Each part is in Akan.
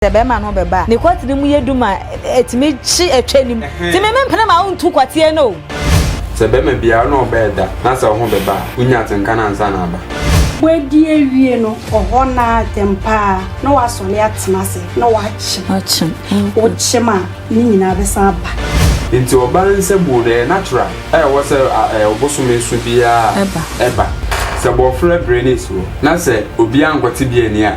sɛ bɛrima no bɛba a, ne kɔtere mu yɛ dum a, ɛtumi hye ɛtwa anim. Nti me mempene ma wontu kɔteɛ no o. Sɛ bɛrima biara na ɔba ɛda na sɛ ɔho bɛba a, wonya atenka no ansa na aba. Moadi awie no, ɔhɔ no ara ntɛm pa ara na wasɔre atena ase na wakyem. Wokyem a, ne nyinaa bɛsan aba. Nti ɔbaa nsa buo no, ɛyɛ natural a ɛwɔ sɛ ɔbosome nso biara ɛba. Sɛ bɔɔferɛ bere no si hɔ na sɛ obiara nkɔte bi anni a,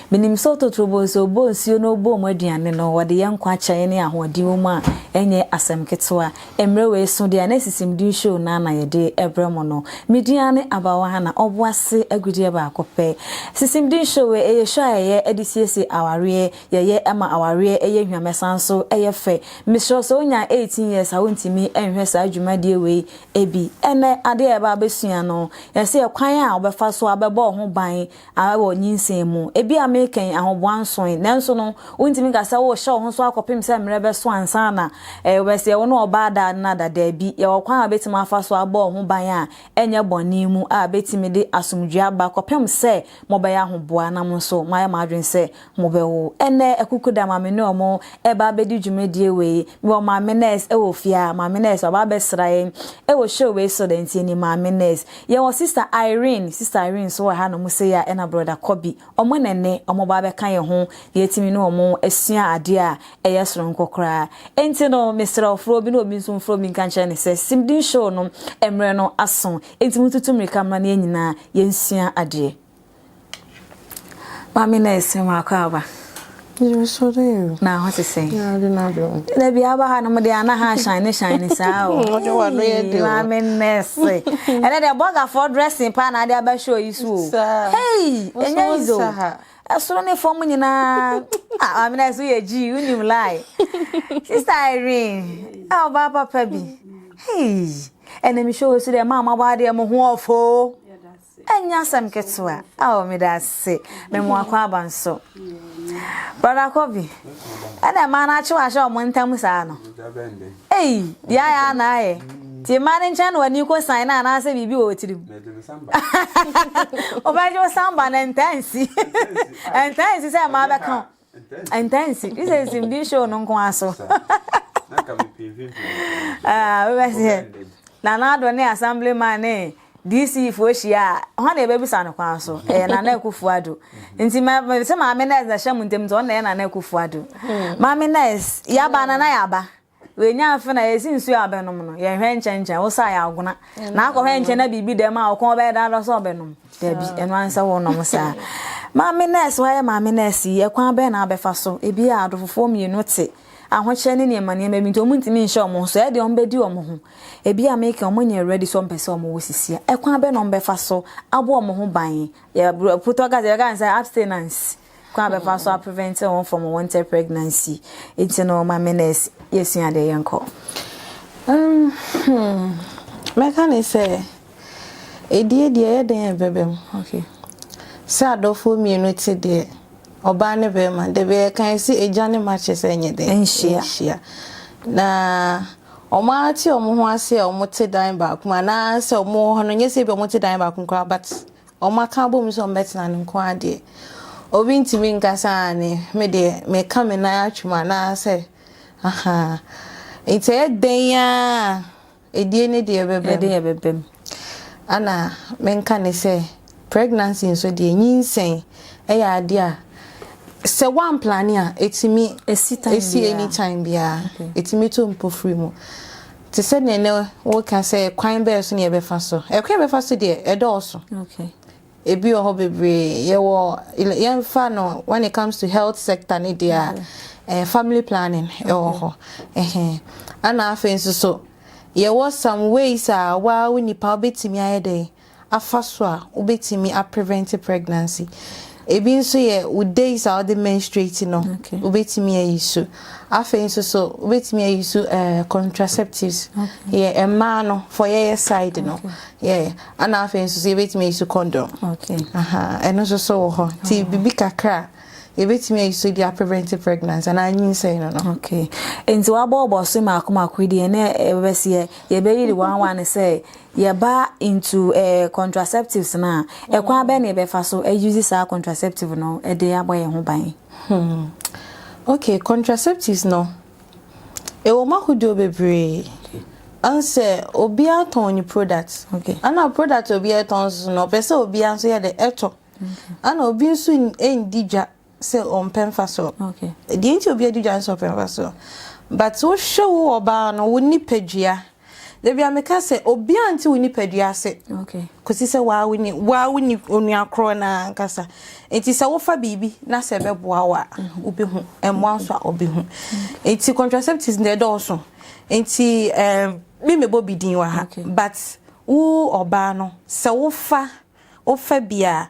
Minim sɛ ɔtotorobɔ nso, ɔbɔ nsuo na ɔbɔ mu aduane no, ɔde yɛn nkwa kyɛ yɛn ahoɔden wɔ mu a, ɛnyɛ asɛm ketewa. Mmerɛ wei so deɛ, na asisimdie nhwiren no ara na yɛde rebrɛ mo no. Me din ara ne Abawa Hannah, ɔboase agudeɛ baako pɛ. Asisimdie nhwiren wei, ɛyɛ nhwiren a yɛyɛ de siesie awareɛ, yɛyɛ ma awareɛ yɛ hwam ɛsan nso yɛ fɛ. Mesrɛ wo, sɛ wonya eighteen years a wontumi nhwɛ saa dwumadie wei bi. Ɛnnɛ, adeɛ a yɛba abɛsua no, yɛse ɛkwan a wobɛfa so abɛbɔ wo ho ban a ɛwɔ nyinsɛn mu. Ebia merekɛn ahoboa nson, nanso no, wuntumi nka sɛ worehyɛ wo ho so akɔpem sɛ mmere bɛso ansa na wobɛsɛ. Yɛwɔ no ɔbaa da anaa da dabi. Yɛwɔ ɔkwan a wobetumi afa so abɔ wo ho ban a ɛnyɛ bɔne mu a ebetumi de asomdwoe aba kɔpem sɛ mobɛyɛ ahoboa na mo nso moayɛ mo adwene sɛ Mobɛwo ɛnɛ akukuda ma me ne ɔmo ɛba abɛdi dwumadie wei. Mewɔ maame nɛs ɛwɔ fie aa maame nɛs waba abɛsra yɛn ɛwɔ show wei so dɛn nti ni maame nɛs. Yɛwɔ sista Irene sista Irene nso wɔ ha nom sei aa ɛna brɔda Kɔbi ɔmo na ɛnɛ ɔmo ba abɛka yɛn ho na yɛatumi ne ɔmo asua adeɛ a ɛyɛ soronko koraa. Enti no mesrɛ wo frɛ obi na obi nso mfrɛ obi nka nkyerɛ no sɛ Simdin show no ɛmmerɛ no aso enti montutu mmirika mmra na yɛn nyinaa yɛnsua adeɛ. Maame na ɛsɛ mu akɔ aba. Na ho te sɛ. Na bi aba ha no mo de ana ha shine ne shine saa o. Maame na ɛsɛ. Ɛnɛ de bɔgafoɔ dressing paa na ade aba show yi so o. Hey, ɛnyɛ izo. Ɛsoro ne fam nyinaa. Ah, maame na ɛsɛ yɛ gyi, unim lie. Sister Irene, ɛ ɔbaa papa bi. Hey, ɛnɛ mi show yi so de maa mo aba adeɛ mo ho ɔfo. Ɛnyɛ asɛm ketewa. Oh, meda ase. Me mmoa kɔ aba nso. Brother Kobe, ɛna mmaa no akye wahyɛ wɔn ntam saa no. Ei, deɛ ayɛ a na ayɛ. Ti mmaa no nkyɛn na w'ani kɔ san na anaasɛ biribi wɔ tirim. Ɔbɛgye wo samba no ntaa nsi. Ntaa nsi sɛ mmaa bɛka wo. Ntansi. This is in this show no nko aso. Ah, we best here. Na na do ne assemblyman ne DC fo hyia. Ho na ebe bisa no kwan so. Eh na na kufu ado. Nti ma se ma me na za hyam ntem to na na na kufu ado. Ma me na ya ba na na ya ba. Wenya afe na yɛsi nsu a ɔbɛnom no, yɛnhwɛ nkyɛnkyɛn, wo saa yɛ agona. Na akɔhwɛ nkyɛn na biribi dɛm a ɔkɔn ɔbɛyɛ dɛ adɔ sɛ ɔbɛnom. Dabi, ɛno ara sɛ wonom saa. Maame nɛɛse, woayɛ maame nɛɛse yi, ɛkwan bɛn na wobɛfa so? Ebi a adɔfofoɔ mmienu te ahokyerɛ ne nneɛma nneɛma bi nti, wɔntumi nhyɛ wɔn ho so. Ɛyɛ deɛ wɔbɛdi wɔn ho. Ebi a meka wɔn nyɛ ready sɛ wɔpɛ sɛ wɔwɔ sisi a. Ɛkwan bɛn na wɔbɛfa so abɔ wɔn ho ban? Yɛ, put ɔka sɛ, yɛbɛka no sɛ abstinence. kwan a bɛfa so a prevent wɔn from wanted pregnancy nti no ma me nurse yɛsua adeɛ yɛn kɔ um, hmm. mɛka ne sɛ ɛdie deɛ ɛyɛ den ɛbɛbɛ mu okay sɛ adɔfoɔ mmienu te deɛ ɔbaa ne bɛrima de bɛyɛ kan sɛ agya ne ma kyɛ sɛ ɛnyɛ dɛ nhyia na wɔn ate wɔn ho ase a wɔn te dan baako mu anaasɛ wɔn wɔ hɔ no nyɛ sɛ ebi wɔn te dan baako koraa but Wɔaka abom sɛ wɔbɛtena no nko ara deɛ, obi ntumi nkasa aane, me deɛ meka me nan atwam anaasɛ ahaa. Nti ɛyɛ dɛn ara a, edie ne deɛ ɛbɛba mu. Ɛdeɛ ɛbɛba mu. Ɛna menka ne sɛ, pregnancy nso deɛ, nyinsɛn ɛyɛ adeɛ a, sɛ woamplane a, ɛtumi si anytime biara. Ɛtumi to mpofiri mu. Te sɛ nea na woreka sɛ kwan bɛn so na yɛbɛfa so. Ɛkwan yɛbɛfa so deɛ, ɛdɔɔso. Ebi wɔ hɔ bebree. Yɛwɔ, yɛmfa no when it comes to health sector ne deɛ a, eh, family planning ɛwɔ hɔ. Ɛna afei nso so, yɛwɔ some ways a waa wo nipa wobɛtumi ayɛ dɛn? afa so a wobɛtumi a prevent pregnancy. Ebi nso yɛ wo days a wode menstruate no wobɛtumi ayi so. Afei nso so wobɛtumi ayi so eh, contraceptives. Yɛ mmaa no for yɛyɛ side no. Yɛ ɛna afei nso so yɛbɛtumi ayi so condom. Ɛno nso so wɔ hɔ nti biribi kakra a yɛbɛtumi ayi so de a prevent pregnancy anaa nyinsɛn no no. Nti wabɔɔbɔ so mmaako mmaako deɛ na ɛbɛsi yɛ yɛbɛyi de one one sɛ Yɛba into eh contraceptives no a, ɛkwan bɛn na yɛbɛfa so a use saa contraceptive no de abɔ yɛn ho ban? Hmm. Ok, contraceptives no, ɛwɔ mu ahodoɔ bebree. Ɛn sɛ obiara tɔn ne product. Ok. Ɛna product a obiara tɔn nso no, ɔpɛ sɛ obiara nso yɛ dɛ ɛtɔ. Ɛna obi nso nni dwa sɛ ɔmpɛ mfasoɔ. Okay. Deɛ nti obi adi dwa ne sɛ ɔpɛ mfasoɔ. But wohwɛ wo ɔbaa no, wo nipadua. Dabi a meka sɛ obi a nti wo nipadua ase. Okay. Kosi sɛ waa wo ni waa wo ni onua korɔ na ankasa. Nti sɛ wofa biribi na sɛ ɛbɛboa wo a, mhm. wobɛhu. Ɛmmoa nso a wobɛhu. Nti contraceptives na ɛdɔɔso. Nti ɛɛm me mebɔ bi din wɔ ha. Okay. But wo ɔbaa no sɛ wofa. wofa bi a,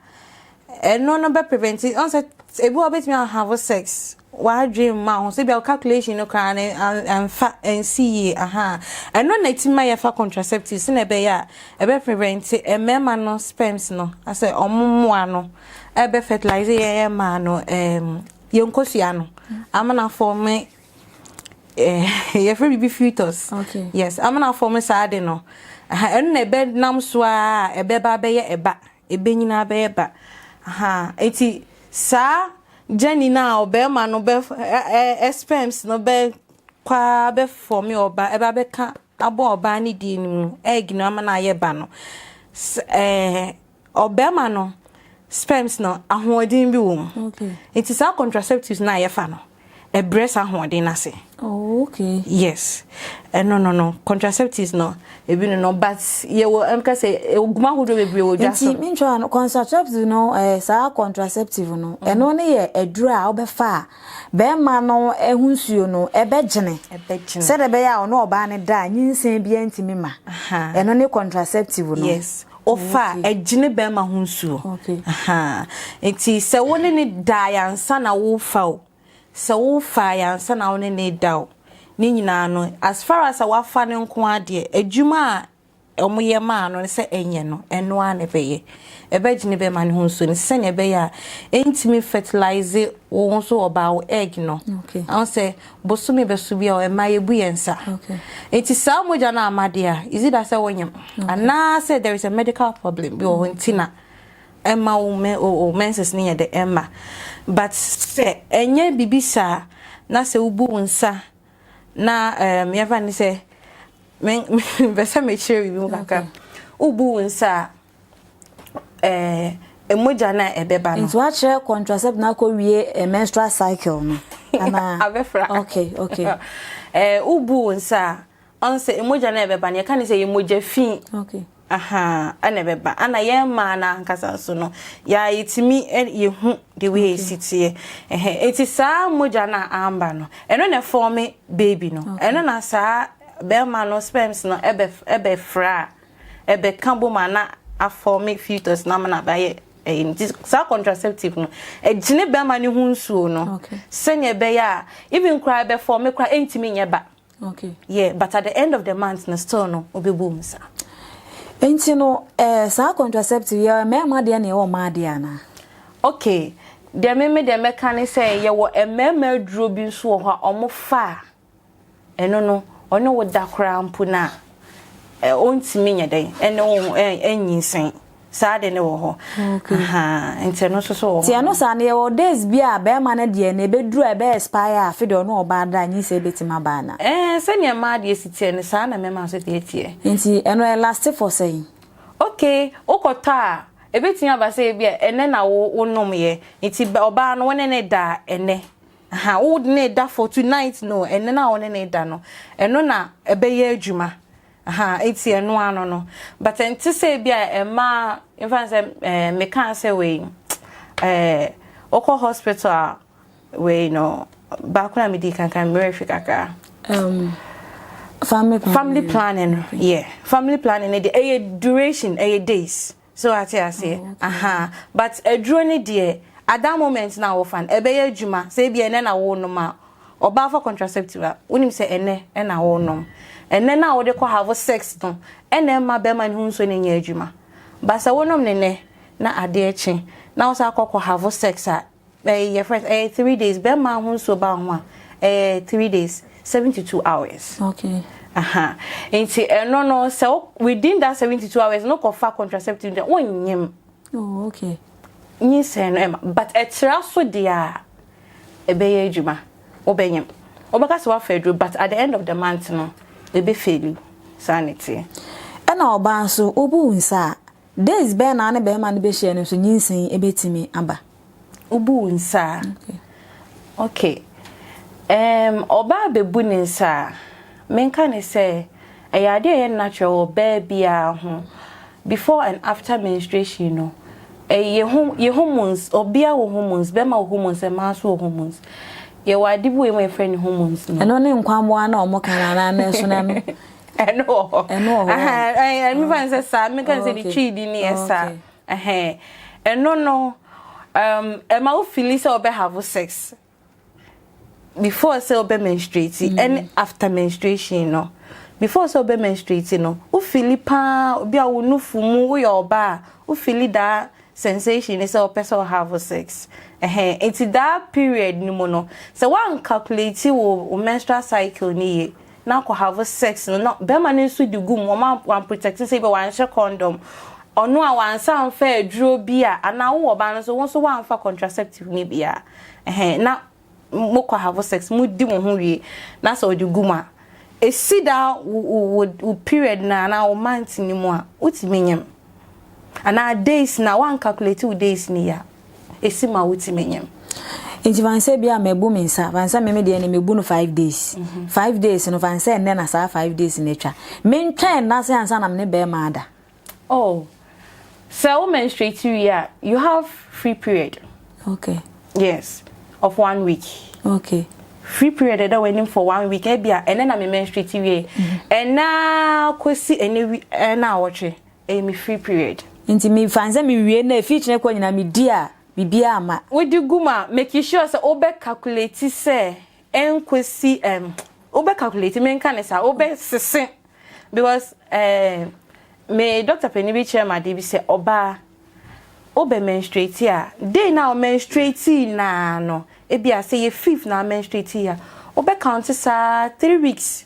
ɛno no bɛ prevent it. Ɔn sɛ ebi wɔ hɔ a wobɛtumi a have sex, w'adwene mma ho. So ebia wo calculation no koraa no ɛmfa, ɛnsi yie, ahaa. Ɛno na ɛtumi ma yɛfa contraceptives sɛnea ɛbɛyɛ a ɛbɛ prevent mmarima no sperms no asɛ wɔn mmoa no ɛbɛ fertilise yɛn mmaa no ɛɛm yɛn nkosua no ama no afɔme Eh, yɛfrɛ biribi fetus yes amena fam saa de no aha ɛno na ɛbɛnam so a ɛbɛba bɛyɛ ɛba ɛbɛnyina abɛyɛ ba aha eti saa gyani no a ɔbɛrima no bɛ ɛ sperms no bɛ kwaa bɛfɔme ɔba ɛba bɛka abɔ ɔbaa ne deɛ no mu egg no ama no ayɛ ba no ɛɛ ɔbɛrima no sperms no ahoɔden bi wɔ mu nti saa contraceptives no a yɛfa no ɛbrɛ saa ahoɔden no ase oh, okay. yes ɛno no no contraceptives no ebi no no but yɛwɔ ɛmka sɛ oguma ahodoɔ bebree wɔ dwa so nti mentwa no contraceptive no eh, saa contraceptive no mm. ɛno ne yɛ aduro a wobɛfa a bɛrima no ɛho nsuo no ɛbɛgyene sɛdeɛ ɛbɛyɛ a ɔne ɔbaa no da a nyinsɛn biara ntumi ma ɛno ne contraceptive no yes Wofa agyini bɛrima ho nsuo. Nti sɛ wo ne ne daa yansa na wofa o, sɛ wofa yansa na wo ne ne da o, ne nyinaa no, as far as a wafa no nko adeɛ, adwuma a wɔyɛ maa no sɛ ɛnyɛ no, ɛno ara na ɛbɛyɛ. Ɛbɛgyini bɛrima no ho nsuo no sɛnea ɛbɛyɛ a ɛntumi fertilize wo nso ɔbaa wo egg no. Ahụ sɛ bosome bɛso bi a ɛma yɛbu yɛn nsa nti saa mogya no ama deɛ a is it asɛ wonyem anaasɛ there is a medical problem bi wɔ hɔ nti na ɛma wo me o menses no yɛ de ɛma but sɛ ɛnyɛ biribi saa na sɛ wobu wo nsa na um, yɛmfa ne sɛ bɛsɛ mekyerɛ biribi mu kakra wobu wo nsa a ɛɛ mogya no a ɛbɛba no. nti wakyerɛ contraceptive na akɔ wie eh, menstrual cycle no anaa abɛfra okay okay ɛɛ eh, wobu wo nsa a ɔnsɛ mogya no a ɛbɛba no yɛka ne sɛ yɛ mogya fi okay aha ɛna ɛbɛba ɛna yɛn mmaa no ankasa nso no yɛtumi yɛhu the way ɛsi teɛ ɛhɛ eti saa mogya no a amba no ɛno na ɛfɔɔme baby no ɛno na saa bɛrima no sperms no ɛbɛ ɛbɛfra a ɛbɛka bom a na afɔme fetus na ama no abayɛ ɛyi no nti saa contraceptive no ɛgyene bɛrima no ho nsuo no sɛnea ɛbɛyɛ a even koraa ɛbɛfɔme koraa ɛntumi nyɛ ba okay yeah but at the end of the month no still no ɔbɛbu mu saa nti no eh, saa contraceptive yɛ mmarima deɛ na ɛwɔ mmaa deɛ anaa okay deɛ meme deɛ mɛka ne sɛ yɛwɔ mmarima aduro bi nso wɔ hɔ a wɔfa a Ɛno no, ɔne wo da koraa mpo no a, ɛ, ɔntumi nyɛ dɛn? Ɛne wo ɛ, ɛnyinsɛn. Saa de no wɔ hɔ. Okay. Ahaa, nti ɛno nso so wɔ hɔ. Ti ɛno saa no, yɛwɔ days bi a bɛrima no deɛ no ɛbɛduru a ɛbɛ expire a, afei deɛ ɔne ɔbaa da a, nyinsɛn bɛtumi aba ana? Ɛɛ, sɛdeɛ mmaa deɛ si teɛ no, saa na mɛma nso deɛ teɛ. Nti ɛno ɛ laste for sɛn? Okay, wokɔtɔ a, ɛbɛtumi aba sɛ ebia ɛnɛ na wo, wonomyɛ, nti bɛ, ɔbaa no wo ne no da a, ɛnɛ. Aha, wo ne no da for tonight no, ɛnɛ no a wo ne no da no, ɛno na ɛbɛyɛ adwuma. Aha, enti ɛno ano no. But ɛnte sɛ ebi a ɛmaa, mfa nsɛ eh, mekaa sɛ wei, eh, wokɔ hospital a, wei no, baako na medi kankan mmerɛ hwe kakra. Um, family planning. Family planning, yeah. Family planning, ɛyɛ duration, ɛyɛ days. So wate aseɛ ahaa but aduro no deɛ at that moment na wofa no ɛbɛyɛ adwuma sɛ ebi ɛnɛ na wonom a ɔbaa fa contraceptive a wonim sɛ ɛnɛ ɛna wonom ɛnɛ na wode kɔ have sex no ɛna ɛma bɛrima ne ho nsuo no nyɛ adwuma ba sɛ wonom ne nɛ na adeɛ kye na wo sa akɔ kɔ have sex a Ɛyɛ yɛfrɛ sɛ ɛyɛ three days bɛrima ho nsuo ba ho a ɛyɛ three days seventy two hours. Okay. Aha nti ɛno no sɛ within that seventy two hours no kɔfa contraceptive de wonyim. Oh okay. Nyinsɛn no ɛma but ɛtra so deɛ a ɛbɛyɛ adwuma wobɛnyim wobɛka sɛ wafa aduro but at the end of the month no ɛbɛfeli saa ne teɛ. Ɛna ɔbaa nso wobu nsa a Days bɛn na ne barima no bɛhyia no nso nyinsɛn bɛtumi aba? Wobu wo nsa a. Okay. Um, ɔbaa bɛbu ne nsa a, menka ne sɛ ɛyɛ adeɛ ɛyɛ natural wɔ baa biara ho before and after menstruation no ɛyɛ ho yɛ hormones ɔbea wɔ hormones bɛma wɔ hormones ɛmaa nso wɔ hormones yɛwɔ ade bi wɔ mu ɛfrɛ ne hormones no ɛno ne nkwammoa na ɔmo ka na anaa nɛso na no ɛno wɔ hɔ ɛno wɔ hɔ ɛmi fa sɛ saa mi ka sɛ de twi di ni yɛ saa ɛno no ɛma wo fili sɛ ɔbɛ have sex before sɛ ɔbɛ menstruate ɛne mm. after menstruation no before sɛ ɔbɛ menstruate no wo fili paa obi a wo nufu mu wo yɛ ɔba a wo fili daa sensation ne sɛ ɔpɛ sɛ ɔhave sex ɛhɛn nti daa period no mu no sɛ wan calculate wo menstrual cycle ne yie. na akɔ have sex no na bɛrima no nso de gu mu wɔn a wɔn protect no sɛ ebi wɔanhyɛ condom ɔno a wansa nfa aduro bi a anaa wo wɔ ba no nso wo nso wanfa contraceptive ne bi a ɛhɛn na mo kɔ have sex mo di mo ho wie na sɛ ɔde gu mu a esi da wo wo wo period na anaa wo month ne mu a wotumi nyam anaa days na wan calculate wo days ne ya esi ma wo timi nyem. Nti fansɛ bia mabu me nsa fansɛ meme deɛ ne mebu no five days mhm. five days no fansɛ ɛnɛ na saa five days no atwa mentwɛn na se ansa na mene bɛrima ada. Oh, sɛ wo menstruate wie a you have free period. Okay. Yes, of one week. Okay. Free period ɛda w'anim for one week ebia ɛnɛ na me menstruate wie mhm. ɛna kɔsi ɛnɛ wi ɛna awɔtwe. Ɛyɛ me free period. Nti me fa no sɛ me wie na fii kyene kɔ nyinaa me di a biribiaa mma. Wo di gu mu a make sure sɛ wo bɛ calculate sɛ ɛnkɔ si ehm wo bɛ calculate me nka no saa wo bɛ sese because ehm me doctor panin bi kyerɛ me adeɛ bi sɛ ɔbaa wo bɛ menstruate a day no a wo menstruate naa no ebi a sɛ yɛ fifth na wo menstruate a wo bɛ count saa three weeks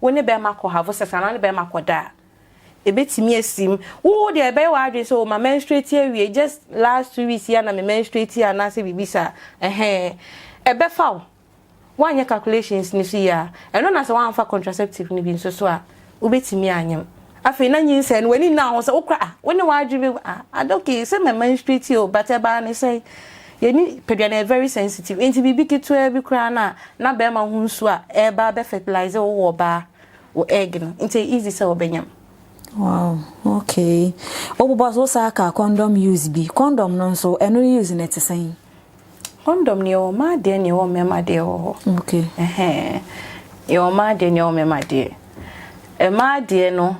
Wo ne bɛrima kɔ have sex anaa wo ne bɛrima kɔ da a, ebetumi asim. Wo deɛ ɛbɛyɛ w'adwene sɛ oh ma menstruate awie, just last two weeks yi ara na me menstruate anaasɛ biribi saa. Ɛhɛn. Ɛbɛfa wo. Woanyɛ calculations no so yie a, ɛno na sɛ woamfa contraceptive no bi nso so a, wobetumi anyem. Afei na nyinsɛn no w'ani nna ho sɛ wokora a wo ne w'adwene bɛgu a ade okay sɛ ma menstrate o but ɛbaa ne sɛn? Yɛn nipadua no ɛyɛ very sensitive enti biribi ketewaa bi koraa no a na bɛrima ho nsuo a ɛreba abɛ fertilize wo wɔ ɔbaa wo egg no nti ɛyɛ easy sɛ ɔbɛnya mu. Wow okay. Wobobɔ so wosaa ka condom use bi, condom no nso ɛno use no ɛte sɛn? Condom no yɛwɔ mmaa deɛ na yɛwɔ mmarima deɛ wɔ hɔ. Okay. Ɛhɛn. Yɛwɔ mmaa deɛ na yɛwɔ mmarima deɛ. Mmaa deɛ no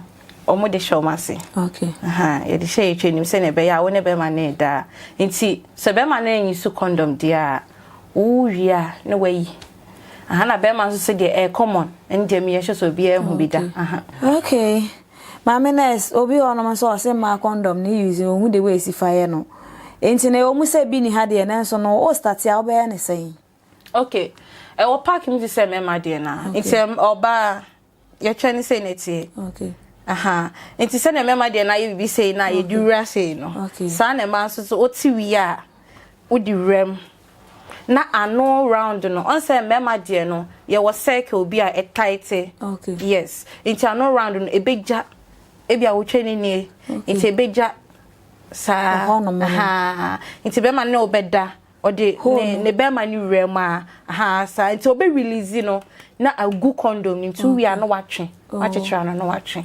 wɔn de hyɛ wɔn ase. Okay. Ɛhɛn. Yɛde hyɛ yɛtwa anim sɛnea ɛbɛyɛ a wo ne bɛrima no reda. Nti sɛ bɛrima no anyi so condom deɛ a wowie a na wayi. Aha na bɛrima nso sɛ deɛ ɛyɛ common ɛne deɛ meyɛhwɛ sɛ obiara ho bi da. Aha. Okay. Maame nurse, obi wɔ hɔ nom nso ɔse mmaa condom no use no ɔnhu the way esi fa yɛ no. Nti no ɛwɔ mu sɛ bi ni ha deɛ nanso no wo start a wobɛyɛ no sɛn? Okay, ɛwɔ pack mu tesɛ mɛma deɛ no a, nti ɔba a yɛtwɛn no sei na ɛteɛ. Okay. Aha, nti sɛdeɛ mɛma deɛ no ayɛ biribi sei na yɛdi wura sei no, saa na ɛma nso so wote wie a wodi wuram. na ano round no ɔn sɛ mmarima deɛ no yɛwɔ circle bi a ɛtaete okay. yes nti ano round no ɛbɛgya ebi a wotwa ne nie okay. nti ɛbɛgya saa nti bɛrima ne ɔbɛda ɔde ne ne bɛrima ne wura mu a ha saa nti ɔbɛ release no na agu condom no nti wia no watwe wakyekyere ano no watwe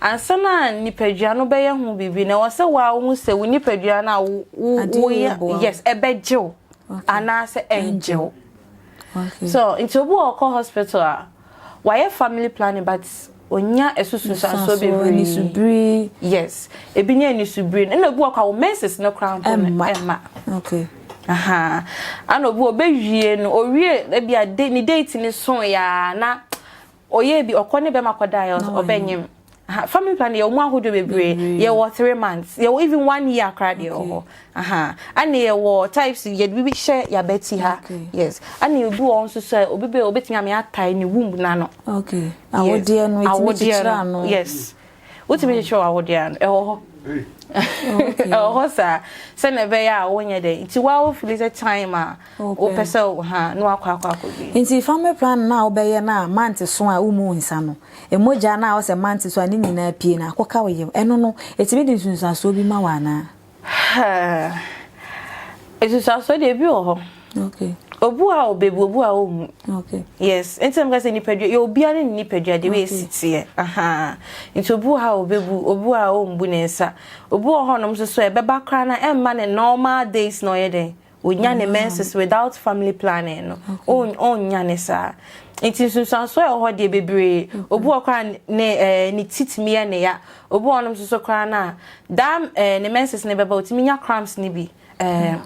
Ansa na nipadua no bɛyɛ ho biribi na ɛwɔ sɛ waa wohu sɛ wo nipadua no a wo woyɛ yes ɛbɛgye wo anaasɛ ɛngye wo so nti obi wɔ ɔkɔ hospital a wayɛ family planning but onya ɛsusu nsansoɔ bebree yes ebi ne anisubiri no ɛna obi wɔ kɔ a wo menses no koraa mpo no ɛma okay aha ana obi wɔ bɛwie no owie ebi a ne date ne so ya na Ɔyɛɛ bi, ɔkɔ ne bɛma kɔ daeɛ ɔsɛ ɔbɛ nyem. Aha family plan yɛwɔ mu ahodoɔ bebree. Yɛwɔ three months, yɛwɔ even one year koraa deɛ wɔ hɔ. Aha ɛna yɛwɔ types yɛde bi bi hyɛ yabɛti ha. Yes ɛna obi wɔ hɔ nso sɛ obi bɛ obetumi ame atae ne womb n'ano. Okay awodeɛ no yɛtumi kyekyere ano. Yes. wotumi kyekyere w'awodeɛ ano ɛwɔ hɔ ɛwɔ hɔ saa sɛnea ɛbɛyɛ a wonyɛ dɛ nti woa wofili sɛ time a wopɛ sɛ ha na wakɔ akɔ akɔ bi nti family plan no a wobɛyɛ no a mante so a womu nsa no mmogya no a wosɛ mante so a ne nyinaa pie no akɔka wo yam ɛno no ɛtumi de nsunsuansoɔ bi ma wɔ anaa Haa Nsusuasoɔ deɛ ebi wɔ hɔ Obu a ɔbɛbu obu a ɔmmu Yes Nti na meka sɛ nipadua yɛ obiara ne ne nipadua deɛ wei si teɛ Ahaa Nti obu wɔ ha a ɔbɛbu obu a ɔmmu ne nsa Obu wɔ hɔnom nso so a ɛbɛba koraa no a ɛmma ne normal days no ɔyɛ dɛn onya ne menses without family planning no ɔnnya ne saa nti nsunsuanso a ɛwɔ hɔ deɛ bebree obi wɔ koraa ne ɛɛ ne titimi yɛ ne ya obi wɔ nom soso koraa no a daa ɛɛ ne menses no bɛba otumi nya cramps no bi ɛɛ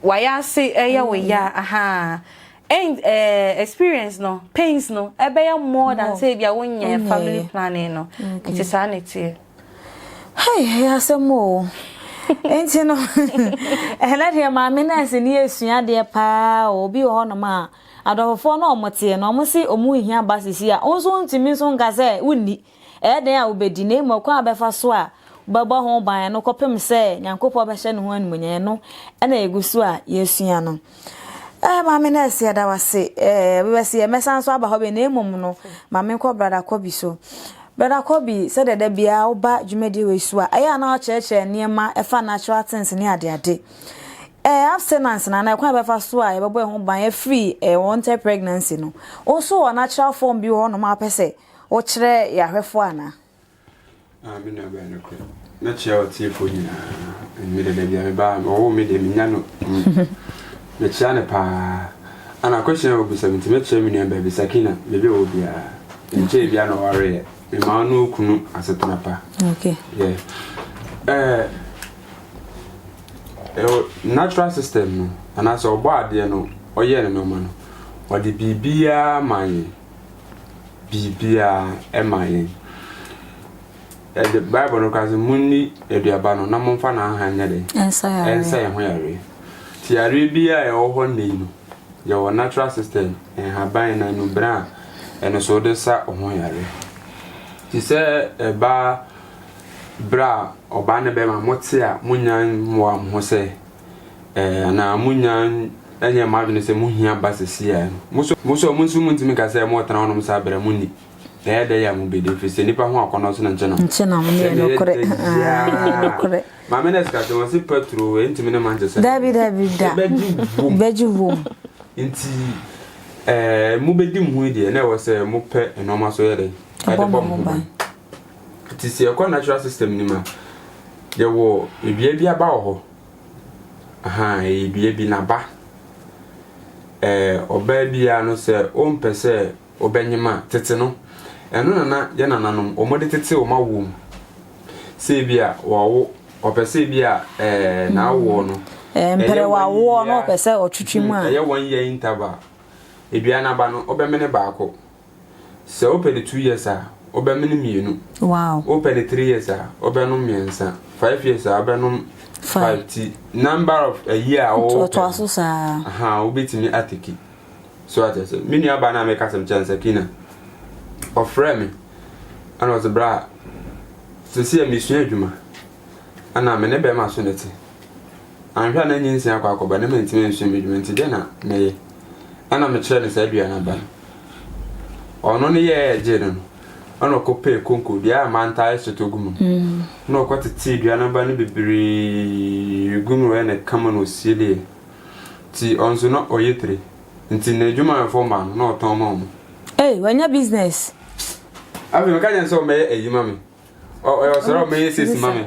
wayɛ ase ɛyɛ wɔ ya ahaa ɛn ɛɛ experience no pains no ɛbɛyɛ more than sɛ ebi a wonyɛ family planning no nti saa na ɛteɛ. Hey, ɛyɛ asɛm o. Nti no, ɛnɛ deɛ maame nɛɛse ne yɛsua adeɛ paa o. Obi wɔ hɔnom a, adɔfofoɔ no ɔmo teɛ no, ɔmo se ɔmo hia ba sisi a, wo nso wontumi nso nka sɛ wonni. Ɛyɛ dɛn a wobɛdi, na mmom kwan a bɛfa so a wobɛbɔ ho ban no kɔpem sɛ Nyankopɔn bɛhyɛ ne ho animuonyam no ɛna yɛgu so a yɛsua no. Eh, maame nɛɛse yɛda wo ase. Eh, bɛbɛse yɛ mɛsan nso aba hɔ bɛ na mmom no, maame nkɔ brada Kobi so. Brada Kobi, sɛdeɛ da biara woba dwumadie wei so a, ɛyɛ a na wokyerɛkyerɛ nneɛma ɛfa natural things ne adeade. Eh, abstinence na na ɛkwan bɛfa so a yɛbɛbɔ ɛho ban afiri eh, unwanted pregnancy no. Wo nso wɔ natural form bi wɔ hɔnom a wopɛ sɛ wokyerɛ yɛn ahwɛfoɔ anaa? Ah, me nua bɛyɛ nokorɛ. Mɛkyerɛ wo tiefoɔ nyinaa. Mmerɛ da bia meba a, ɔwɔ me deɛ menya no. Mekyia no paa. Ana question a wɔbisa me nti mɛkyerɛ me nua baabi Sakina, baabi a ɔwɔ biara. Nkyɛɛ bia na ɔwareɛ. Mema ɔne okunu asetena pa. Okay. Yeah. Eh, eh, natural system no, anaasɛ ɔbɔ adeɛ no, ɔyɛɛ no nneɛma no, ɔde biribiara ma yɛn. biribiara ma yɛn. Ɛde Bible no ka sɛ munni aduaba no na momfa n'ahan nyɛ dɛ ɛnsa yɛn ho yareɛ. Ti yareɛ bi a ɛwɔ hɔ nnɛ yi no yɛwɔ natural system nhaban na nubena a ɛno so wode sa wo ho yareɛ. Ti sɛ ɛbaa berɛ a ɔbaa ne bɛrima mote a monnya mmoa mo ho sɛ Ɛɛ, anaa munnya nyɛ mo adwene sɛ muhia ba seesei no? Mo so, mo so, mo nso muntumi nka sɛ moretena hɔnom saa bere a munni. Ɛyɛ dɛn a mubedi, efiri sɛ nnipa ho akɔnnɔ so na nkyenam. Nkyenam ne nokorɛ. Nokorɛ. Maame Nurse ka sɛ, wɔse Petro ntumi ne Manchester. Dabi, dabi, da. Ɛbɛgye wom. Ɛbɛgye wom. Nti, ɛɛ, mubedi mo ho yi deɛ, na ɛwɔ sɛ mopɛ nneɛma so yɛ dɛn? Ɛde bɔ mo ho ban. Ntsi sɛ yɛkɔ natural system no mu a, yɛwɔ dua bi aba wɔ hɔ, ahaa, yɛyɛ dua bi n'aba. Ɛɛ ɔbaa biara no sɛ ɔmpɛ sɛ ɔbɛnyem a, tsetse no, ɛno na na yɛn nananom wɔde tsetse wɔn awoɔ mu. Sɛ ebi a wɔawo, ɔpɛ sɛ ebi a ɛɛ n'awoɔ no, ɛyɛ one year, ɛhɛn, ɛyɛ one year interval a, dua n'aba no, ɔbɛmene baako. Sɛ wopɛ no two years a, wobɛmene mmienu. Wow. Wopɛ no three years a, wobɛnom mmiɛnsa. Five years a, wobɛnom five ti. Number of a year a wowɔ. Ɔtoa so saa. Aha, wobɛtumi ateki. So ate sɛ, me nua baa no a meka sɛm kyɛn Sakina. Ɔfrɛ me, ɛna ɔte bra a, sisi a mesua adwuma, ɛna me ne bɛrima so ne te. Anhwɛ a na nyinsɛn akɔ akɔba na mantumi ansua me adwuma nti dɛn na mɛyɛ? Ɛnna mekyerɛɛ no saa dua no aba no. Ɔno ne yɛɛ a ɛgyee no no, ɛnna ɔkɔpɛɛ konko, dua a mantaa yɛ soto gu mu, na ɔkɔtetee dua no aba no bebree gu mu, ɔyɛɛ no kama na osieleeɛ. Nti ɔno nso na ɔyɛ tire, nti n'adwumayɛfoɔ mmaa no, na ɔtɔn ma wɔn. Ei, wanya business! Afei meka kyerɛɛ no sɛ ɔmmɛyɛ ayi ma me. ɔyɛ ɔsrɛ ɔmɛ yɛ six ma mi.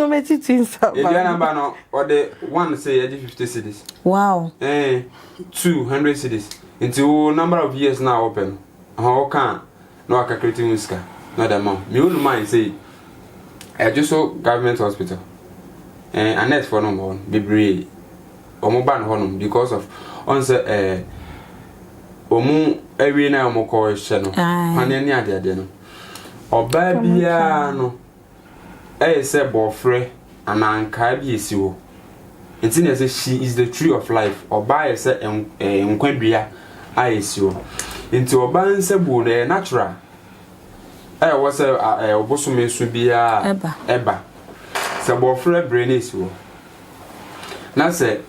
ɔmɛ ti ti nsa ma mi. ebi anaba no ɔde one say yɛ gye fifty cedis. wow. ɛɛ eh, two hundred cedis nti wo number of years na awɔ pɛ no ɔhɔn wo kan na waka kiriti ho sika na ɔde ma mi wo numa ayɛ sɛ yi ɛdwo so government hospital ɛɛ eh, anet fɔ no wɔ hɔ bebree wɔn ba no hɔ nom because of ɔn sɛ ɛɛ eh, wɔn awie na wɔn kɔ hyɛ no paneɛ ne adeadeɛ no. Ɔbaa biara no, ɛyɛ sɛ bɔɔfrɛ anaa nkaa bi a ɛsi hɔ. Nti na ɛsɛ she is the tree of life. Ɔbaa yɛ sɛ nkwa dua a ɛsi hɔ. Nti ɔbaa nsabuo no ɛyɛ natural a ɛwɔ sɛ ɔbosome so biara ɛba. Sɛ bɔɔfrɛ bere no ɛsi hɔ. Na sɛ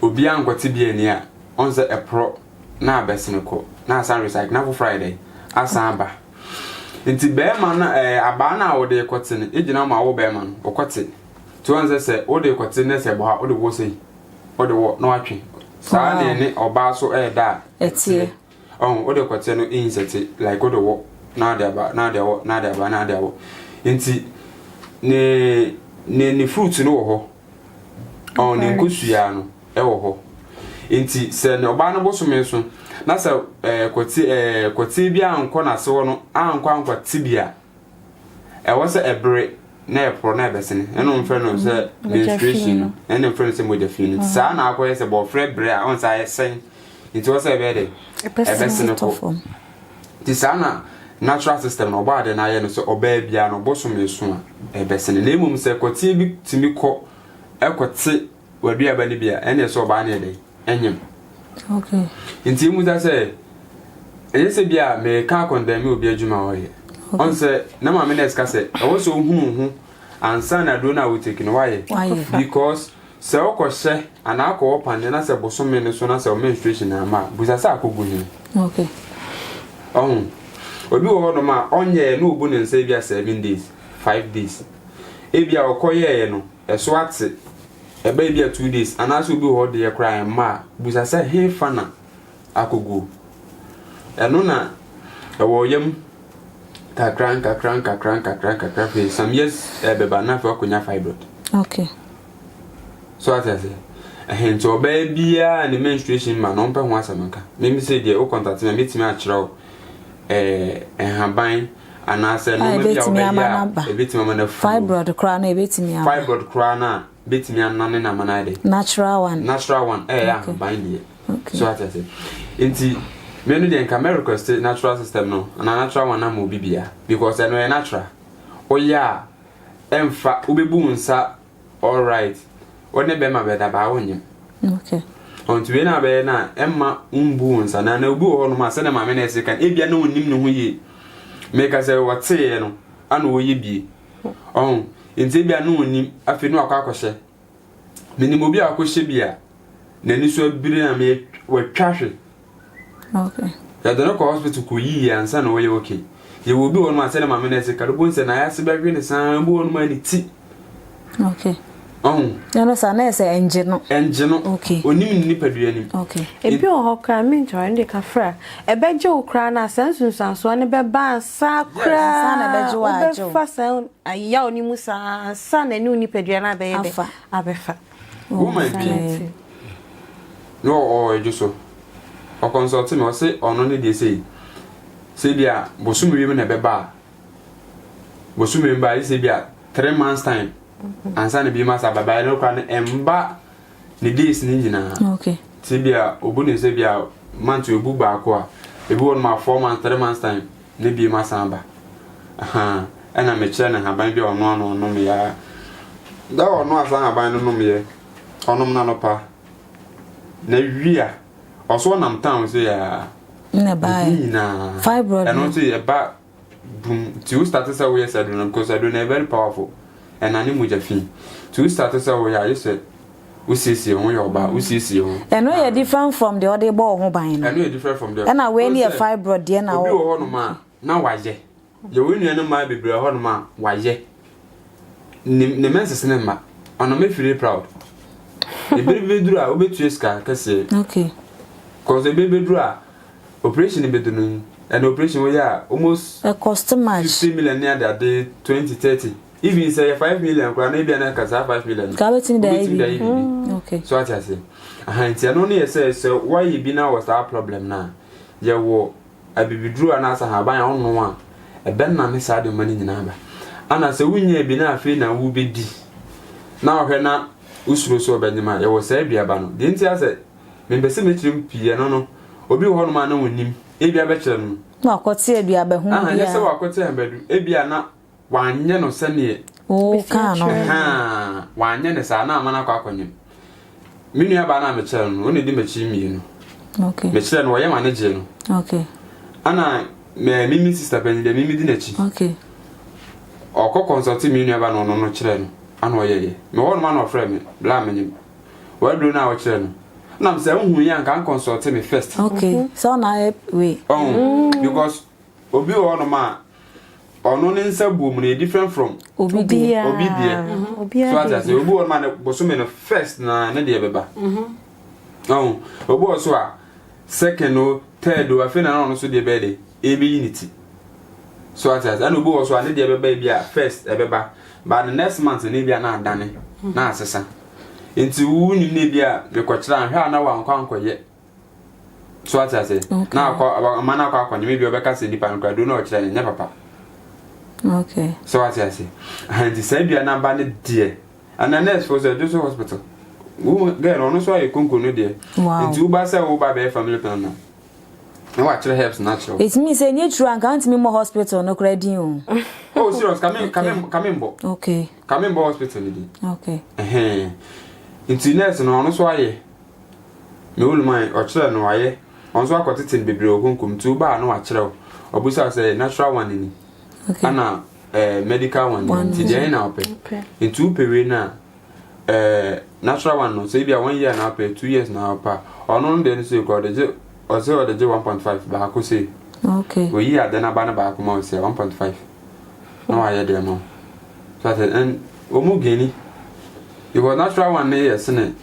obiara nkɔte bi ani a, ɔn sɛ ɛporɔ. na abɛsene kɔ na asan recycle na foforɔ ayɛ dɛ asan aba nti bɛrima no ɛɛ eh, abaa no a wɔde kɔte no egyina ma wo bɛrima no ɔkɔte tí wɔn sɛ sɛ wɔde kɔte ne sɛ bɔha wɔde wɔ sɛyi wɔde wɔ na watwe saa na ɛne ɔbaa so ɛɛda a ɛteɛ ɔn wɔde kɔte no ɛyin sɛ te like wɔde wɔ na ade aba na ade awɔ na ade aba na ade awɔ nti ne ne ne fruit no wɔ hɔ. Ɔn ne nkosua no wɔ hɔ. Nti sɛ ne ɔbaa no bosome so na sɛ ɛɛ eh, kɔte ɛɛ eh, kɔte bi ankɔ n'ase hɔ no ankɔ ankɔ te bi a, ɛwɔ sɛ ɛbere na ɛporɔ na ɛbɛsene. Ɛna wɔfrɛ no sɛ menstruation no. Ɛna wɔfrɛ no sɛ mogya fi no. Saa na akɔyɛ sɛ bɔfrɛ bere a ɔn sɛ ayɛ sɛn. Nti wɔ sɛ ɛbɛyɛ dɛ ɛbɛse no kɔ fam. Nti saa na natural system na ɔbɔ ade no ayɛ no sɛ ɔbaa biara no ɔbɔsom esu a ɛbɛse no na mmom sɛ kɔteɛ bi tumi kɔ ɛkɔte w'aduaba no bi a ɛne ɛsɛ ɔbaa ne ɛdɛn ɛnyem. Okay. Nti emu ta sɛ ɛnyɛ sɛ bi a meka akɔndɛme obi adwuma a ɔyɛ. Ɔn sɛ na maame nurse ka sɛ ɛwɔ sɛ ohunu ho ansa na aduro no a woteki no wayɛ because Sɛ wokɔhyɛ anaa wokɔwɔ paneɛ na sɛ bosome no so na sɛ wo menstruation amma a, busa sɛ akɔgu he? Okay. Ɔho. Obi wɔ hɔnom a ɔnyɛɛ na obu ne nsa ebi a seven days, five days. Ebi a ɔkɔyɛɛ no, ɛso ate, ɛbɛyɛ bi a two days, anaasɛ obi wɔ hɔ deɛ koraa ɛmma a, busa sɛ he fa na akoguo. Ɛno na ɛwɔ yam kakra nkakra nkakra nkakra nkakra afei some years ɛbɛba na afei ɔkɔnya fibroid. Okay. So ate ase. Ɛhɛn nti ɔbɛyɛ biara ne menstruation ma na ɔmpɛ ho asɛm nka. Mimi sɛ deɛ wokɔntate me mɛtumi akyerɛ wo ɛɛ nhaban anaasɛ nneɛma bi a wobɛyɛ a ɛbɛtumi ama no afu. Fibroid koraa no ɛbɛtumi ama. Fibroid koraa no a bɛtumi anane na ama no ayɛ dɛ. Natural one. Natural one ɛyɛ ahaban deɛ. Okay. So atete. Nti me no deɛ nka me request natural system no na natural one ama obi bia because ɛno yɛ natural. Oyɛ a ɛmfa wobɛbu wo nsa all right. Ɔne bɛma bɛda baa wonyɛ. Okay. Ɔnti wei na bɛyɛ na ɛmma wombu wo nsa na na obi wɔ hɔ nom a sɛdeɛ maame na ɛsɛ kan ebia na wonnim ne ho yie. Meka sɛ wɔteeɛ no ana wɔyɛ bie. Ɔho nti ebia na wonnim afei na wakɔ akɔhyɛ. Menim obi a ɔkɔhyɛ bi a n'ani so abiri a me watwa hwe. Okay. Yɛde no kɔ hospital kɔ yii yɛ ansa na ɔyɛ okay. Yɛwɔ obi wɔ nom a sɛdeɛ maame no ɛte ka no bohu sɛ n'ayase bɛhwe ne saa bi wɔ nom a ne ti. Okay. Ɔho. Ɛno saa na yɛ sɛ ɛngye no. Ɛngye no. Okay. Onim ne nipadua nim. Okay. Ebi wɔ hɔ koraa mentwa ɛno de ka fra. Ɛbɛgye wo koraa na saa nsunsuansoɔ no bɛba Saa koraa, wobɛfa saa yaw no mu saa ara ansa na ɛne wo nipadua no abɛyɛ dɛ abɛfa. Woman pii na ɔwɔ adwo so. Ɔkɔnsɔlte me, ɔse ɔno ne deɛ sei, sɛ bi a bosome wiem na ɛbɛba a, bosome wiem ba a, ɛsɛ bi a three months time ansa na bi ma sa ba, baeɛ no koraa no ɛmba ne days ne nyinaa okay ti bi a obu ne sɛ bi a month obu baako a ebi wɔ no ma four months three months time ne bi ma san ba aha ɛna me kyerɛ ne haban bi a ɔno ano ɔnom yɛ a da ɔno asa haban no nom yɛ ɔnom na no pa na wi a ɔso ɔnam town sɛ yɛ a ne bi nyinaa ɛno nso yɛ ba Boom ti wo start sɛ woyɛ sɛ do no because sɛ do no yɛ very powerful ɛna ne mogya fi ti wo start sɛ woyɛ a yɛ sɛ wo siesie wo ho yɛ ɔbaa wo siesie wo ho. Ɛno yɛ different from deɛ ɔde bɔ wo ho ban no ɛno yɛ different from deɛ ɛna wei no yɛ fibroid deɛ na obi wɔ hɔ nom a na wayɛ yɛwɔ nnuanom maa bebree wɔ hɔ nom a wayɛ nim ne menses ne mma ɔno me feel proud ebere bi bɛduru a wobɛtua sika kɛseɛ okay cause ebere bi bɛduru a operation bɛdu no ɛna operation wɔyɛ a almost it cost much 50 million ne ade ade 20 30 even sɛ yɛ 5 million koraa na ebia na ɛka saa 5 million ka wobɛtumi da yɛ biribi mm, okay so ate aseɛ aha nti ɛno ne yɛ sɛ sɛ woayɛ bi na wɔ saa problem no a yɛwɔ abibiduro anaasɛ ahaban a wonoa a, ɛbɛnane saa de mma no nyinaa aba. Ana sɛ wonyaa bi na afei na wobɛdi na wohwɛ na wosuro sɛ ɔbɛnyem a, yɛwɔ saa aduaba no. Deɛ nti a sɛ mempɛ sɛ mɛkyerɛ mu pii ɛno no, obi wɔ hɔnom a na ɔnnim, ebia bɛkyerɛ no no. Na wakɔte aduabahunu bi a. Aha, nyɛ sɛ wakɔte ahabadu, ebia na Wanyɛ no sɛdeɛ. Wokaa no. Wanyɛ no saa na ama no akɔ akɔnwem. Me nua baa no a mekyerɛ no no, ɔna ɛdi m'akyi mmienu. Mekyerɛ no, ɔyɛ ma ne gye no. Ana mimi sista panyin deɛ mimi di n'akyi. Ɔkɔ kɔnsɔte me nua ba no ɔno no kyerɛ no, ana ɔyɛyɛ. Mewɔ nom ana ɔfrɛ me, bla a menyem. Waduro no a ɔkyerɛ no. Nam sɛ wohu yɛ anka nkɔnsɔte me first. Okay, sɛ ɔna ayɛ wei. Ɔn, because. Obi wɔ hɔnom a, ɔno ne nsa buom no yɛ different from obi deɛ. Obi deɛ. Mm-hmm. So ati ase obi wɔ hɔnom a ne bosome no first na ne deɛ bɛba. Mm-hmm. Ɔn obi wɔ so a second o third o afei na ɔno so deɛ bɛyɛ de ebi yi ne ti. So ati ase ɛna obi wɔ so a ne deɛ bɛba ebi a first ɛbɛba but the next month ne ebi a na adane mm-hmm. na asesa. Nti wunim ne ebi a mekɔkyerɛ anhwɛ a na wankɔ ankɔyɛ. so ate ase na akɔ ama no akɔ akɔ ne mebi ɔbɛka sɛ nipa no kora duro na ɔkyerɛ no nyɛ papa okay so ate ase nti saa dua no aba no deɛ ana nurse fo sɛ ɛdwo hospital wo gɛɛ no ɔno so ayɛ konko no deɛ nti woba sɛ woba bɛyɛ family plan no na wakyerɛ herbs no akyerɛ wo ɛtumi sɛ ɛnyɛ turo anka wontumi mmɔ hospital no kora din o oh serious kame kame kame mbɔ okay kame mbɔ hospital no din okay ɛhɛn nti nurse no ɔno so ayɛ Me wɔ luman ɔkyerɛ no wayɛ ɔno nso akɔ tete no bebree okunkum tu ba a na wakyerɛ o ɔbusa sɛ natural one ni okay. ana eh, medical one ni nti deɛ na ɔpɛ nti wopɛ wei no a eh, natural one no sɛ ebi a one year na ɔpɛ two years na ɔpa ɔno no deɛ no sɛ kura ɔde gye ɔsɛ ɔde gye one point five baako sɛ okay. oyi ade no aba no baako ma ɔsɛ one point five na wayɛ deɛ ma o. So ate aseɛ and wɔn mu gani because natural one ne yɛ sene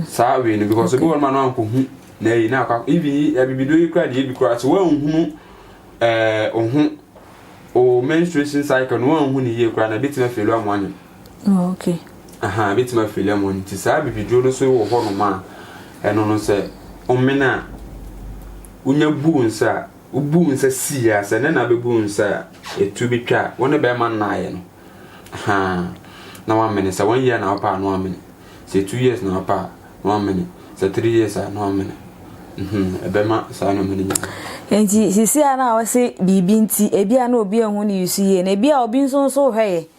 saa wei no because obi wɔ no ma no ankɔ hu na ayi na akɔ even yi abibido yi kura deɛ bi kura sɛ wɔanhunu ɛɛ oho o menstruation cycle no wɔanhu ne yie kura na ebitumi afeelu amu anyi. Oh, okay. Aha ebitumi afeelu amu anyi ti saa abibiduro no so wɔ hɔ nom a ɛno no sɛ ɔmena a wonya bu nsa a Wobuu nsa sii a, sɛ ne na bɛbu nsa a, ɛtu bi twa a, wo ne bɛrima no na ayɛ no. Ahaa, na wamene. Sɛ one year na wopɛ a, na wamene. Sɛ two years na wopɛ a, na wamene. Sɛ three years a, na wamene. Mhm, ɛbɛma saa nneɛma no nyinaa. Enti seesei a na wɔse biribi nti, ebia na obi anhu ne yi so yie no, ebia obi nso nso rehwɛ yɛ.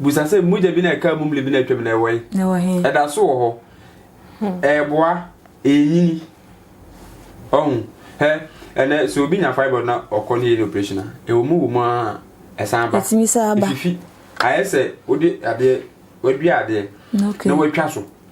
Bisa sɛ, Mogya bi na ɛkaa mum le bi na atwam na ɛwɔ he? Ɛda so wɔ hɔ. Ɛɛboa, ɛnyini. Ɔhu? Hɛ, ɛnɛ sɛ obi nya fibroid na ɔkɔ ne yɛ ne operation a, ɛwɔ mu wɔ mu a ɛsan ba. Ɛfifi. Ayɛ sɛ wode adeɛ, wadua adeɛ na watwa so.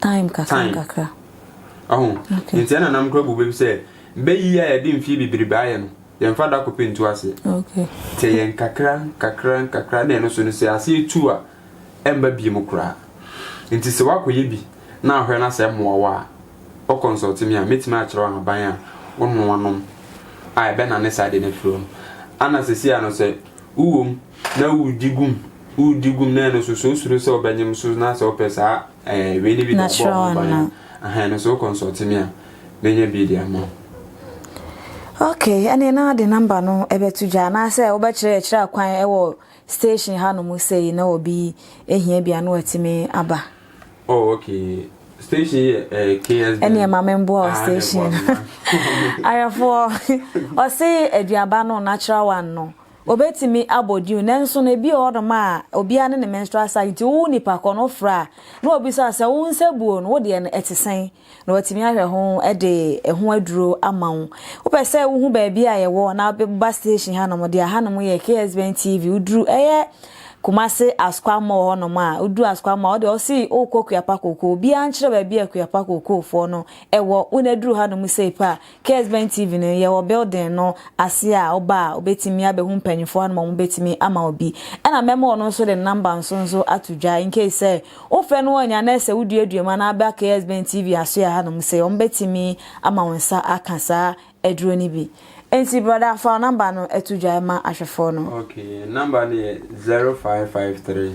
Time kakra nkakra. Ɔho. Okay. Nti ɛna nam kura bu bɛbi sɛ bɛyi a yɛde mfie bebrebe ayɛ no yɛmfa da kɔpɛ ntu aseɛ. Okay. Nti ɛyɛ nkakra nkakra nkakra na ɛno so no sɛ aseɛ tu a ɛmba bie mu koraa. Nti sɛ woakɔyɛ bi na ahwɛ na sɛ mmoa wo a wo consult me a mɛtumi akyerɛ ahaban a wonoa nom a ɛbɛnane saa deɛ no afiri hɔ no. Ana sɛsi a no sɛ wowɔ mu Na woredi gum, woredi gum na ɛno nso sɛ wosuro sɛ wobɛnyem so na sɛ wopɛ saa ɛɛ wei no bi de abɔ wo ho ban a, aha ɛno nso wokɔnsɔɔte me a, mɛnya bi de ama wo. Okay, ɛnneɛ na de number no bɛto dwa anaasɛ wobɛkyerɛ yɛ kyerɛ akwan wɔ station hanom sei na obi hia bi a na watumi aba? Oh okay, station yɛ ɛɛ KSDM. Ɛnneɛ ma memboa wo station no. Ayɔfoɔ, ɔse aduaba no natural one no. Obetumi abɔ din o, nanso no ebi wɔ hɔnom a obiara ne ne menstrual cycle nti wo nipa kɔ no wofrɛ a na wabisa wo sɛ wo nsa buo no wo deɛ no ɛte sɛn na watumi ahwɛ ho de ɛho aduro ama wo. Wopɛ sɛ wohu baabi a yɛwɔ na ba station hanom deɛ hanom yɛ KSBN TV woduru ɛyɛ Kumase Asokwa Mall hɔnom a woduru Asokwa Mall wodeɛ ɔse wokɔ Kuapa Koko obiara nkyerɛ baabi a Kuapa Kokofoɔ no ɛwɔ wonaduru hanom sei pɛ a KSBN TV no yɛwɔ building no ase a ɔba a obetumi abehu mpanyinfoɔ anam a wɔbetumi ama obi ɛna mɛma ɔno nso de ne number nso nso ato dwa in case sɛ wofɛ no anya na ɛsɛ woduadua mu anaa aba KSBN TV asoɛ ha nom sɛ wɔbetumi ama wɔn nsa aka saa aduro no bi nti brɔda fa number no ɛto dwa ɛma ahwɛfoɔ no. Okay number no yɛ zero five five three.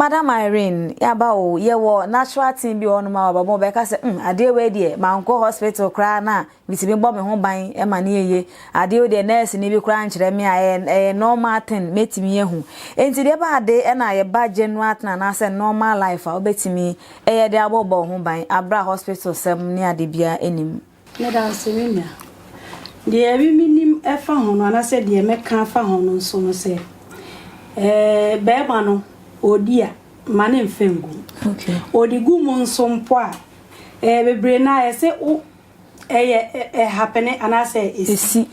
Madam Irene, yɛaba o, yɛwɔ natural thing bi wɔ hɔnom a wɔbɛbɔ, wɔbɛka sɛ, hmm, adeɛ wei deɛ, mankɔ hospital koraa na metumi bɔ me ho ban ma no yɛye. Adeɛ wei deɛ, nɛɛseni bi koraa nkyerɛ me a, ɛyɛ, ɛyɛ normal thing, mɛtumi ahu. Enti deɛ ɛba ade na yɛba general thing anaasɛ normal life a, wobɛtumi, ɛyɛ de abɔ bɔ wo ho ban, aberɛ a hospital sɛm ne adeɛ biara nni mu. Meda ase me nua. Deɛ me menim fa ho no anaasɛ deɛ mɛka afa ho no nso no sɛ, ɛɛ barima no ɔredi a, mma ne mfa ngu mu. Ɔde gu mu nso mpo a, ɛɛ bebree no ara ɛsɛ wo ɛyɛ ɛhapene anaasɛ ɛsi.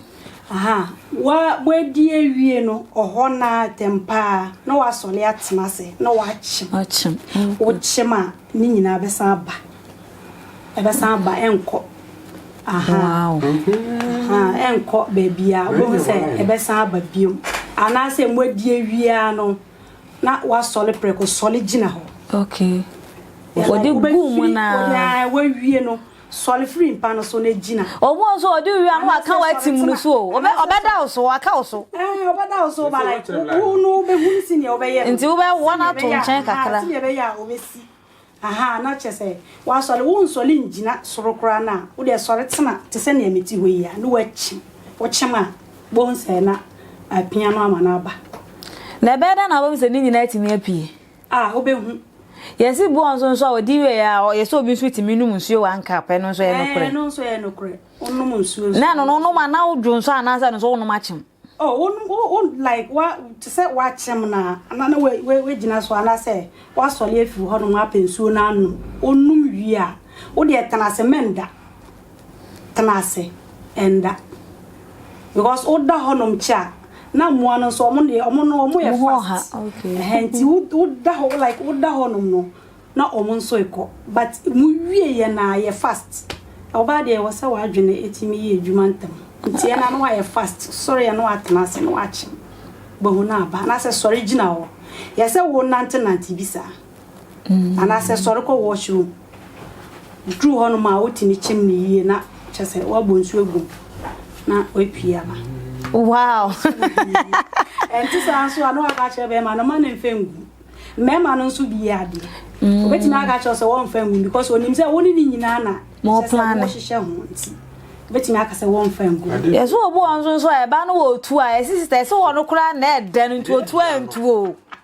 Aha, wa wadi awie no ɔhɔ no ara tɛm pa ara na wasɔre atena ase na wakyem. Wakyem. Wokyem a, Ne nyinaa bɛsan aba. Ɛbɛsan aba, ɛnkɔ. Wow. Ɛnkɔ baabiara. Wobɛhu sɛ ɛbɛsan aba biom. Anaasɛ moadi awie ara no, na wasɔre prɛko sɔre gyina hɔ. Okay. Wɔde gu mu na. Wɔawie no. Sɔre firi mpa no so na gyina. Obu wɔn so ɔde wia no waka wɔ atim no so o ɔbɛ ɔbɛda wo so waka wo so. Ɛɛ ɔbɛda wo so ba like wo no wobɛhu no sɛnea wobɛyɛ no. Nti wobɛ wɔn no ato nkyɛn kakra. Aha sɛnea ɛbɛyɛ a ɔbɛsi aha na kyɛ sɛ wasɔre wo nsɔre ngyina soro koraa no a wo deɛ sɔre tena te sɛ nea mete hɔ yi a na wakyim wokyim a bohu sɛ na apia no ama no aba. Na ɛbɛyɛ dɛn na wobɛhu sɛ ne nyinaa atumi apue. a, wobɛhu. Yɛse boɔ nso nso a ɔdi wieɛ a ɔyɛ sɛ obi nso tumi nom nsuo one cup ɛno nso yɛ nokorɛ. ɛno nso yɛ nokorɛ wonom nsuo nso. na ɛno no wonom ana wodwo nso anaasɛ ɛno nso wonom akyem. oh wonom wo wo like wa te sɛ wakyem na ana na wa wa wagyina so anaasɛ wasɔre afiri hɔnom apɛ nsuo no anom wonom wie a wodeɛ tena ase mɛnda. Tena ase ɛnda. Because wo da hɔ nom kyɛ a, na mmoa no nso ɔmo deɛ ɔmo no ɔmo yɛ fast. Ɛhɛn nti wo wo da hɔ like wo da hɔ nom no na ɔmo nso ekɔ. But mo wie yɛ na yɛ fast. Ɔbaa deɛ ɛwɔ sɛ w'adwene etumi yɛ adwuma ntɛm. Nti yɛ na na wayɛ fast. Sɔre a na watena ase na wakyem. Behu no aba. Anaasɛ sɔre gyina hɔ. Yɛ sɛ wo nante nante bi saa. Anaasɛ sɔre kɔ washroom. Duru hɔnom a wotumi kyem no yie na kyerɛ sɛ woabɔ nsuo agu mu na woapue aba. Wow! Ɛnte saa nso a na waka akyerɛ bɛrima no ma no mfa ngu. Mmarima no nso bi yɛ adeɛ. Obetumi aka akyerɛ sɛ wɔmfa ngu because onim sɛ wo ne ne nyinaa na kyerɛ sɛ wɔhyehyɛ ho nti. Obetumi aka sɛ wɔmfa ngu. Yɛsɛ obu wɔn nso nso a ɛba no wɔtu a ɛsi sista ɛsɛ wɔn koraa na ɛdɛ no nti wɔtu antu o.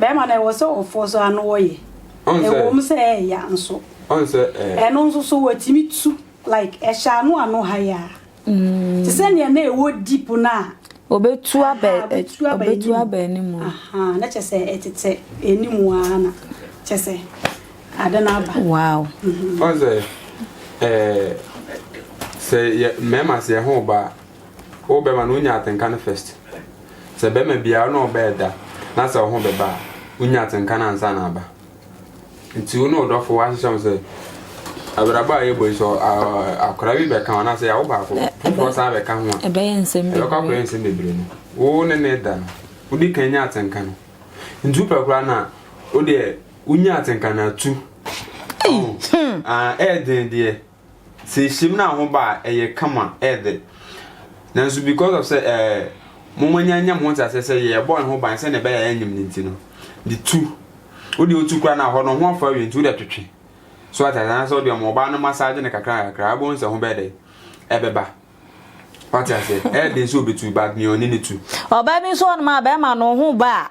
Bɛrima no, ɛwɔ sɛ ɔfɔ so ano wɔ yɛ. Ɛwɔ mu sɛ ɛyɛ ya nso. Ɛno nso so wɔtumi tu like ɛhyɛ ano ano ha yi a. Te sɛ nea na ɛwɔ deep no a. Obetu aba obetu aba anim. Aha na kyɛ sɛ ɛtetɛ anim ara na kyɛ sɛ ade no aba. Wow. Ɔsɛ ɛɛ sɛ yɛ mmarima sɛ yɛn ho ba Wo bɛma no wonya atenka no first sɛ bɛma biara wo na ɔba ɛda na sɛ ɔho bɛba a wonya atenka no ansa na aba nti wo ne ɔdɔfo wahyehyɛ ho sɛ abirabɔ a yɛbɔ yi sɛ akora bi bɛka ho anaasɛ yɛawo baako foforɔ saa bɛka ho a ɛbɛyɛ nsɛm bebree ɛbɛkɔ akɔyɛ nsɛm bebree no wo ne ne da no wodi kan nya atenka no nti wopɛ koraa no a wodeɛ wonya atenka no atu ɛyɛ den deɛ Sɛ ehyiam na ho ba a, ɛyɛ kama, ɛyɛ dɛ. Nanso because of sɛ ɛɛ eh, mo mo nya nya mo ho te aseɛ sɛ yɛyɛ bɔɔl ho ban sɛnea ɛbɛyɛ ɛnyim ne nti no, de tu. Wode otu koraa na hɔ no ho afɔ awie nti wode twetwe. So ate aseɛ anaasɛ wode ɔmo ɔbaa no massage no kakra kakra wobɛhu sɛ ho bɛyɛ dɛ ɛbɛba. Wate aseɛ ɛyɛ den sɛ obetu but nea ɔne ne tu. Ɔbaa bi nso wɔ nom a bɛrima no ho ba a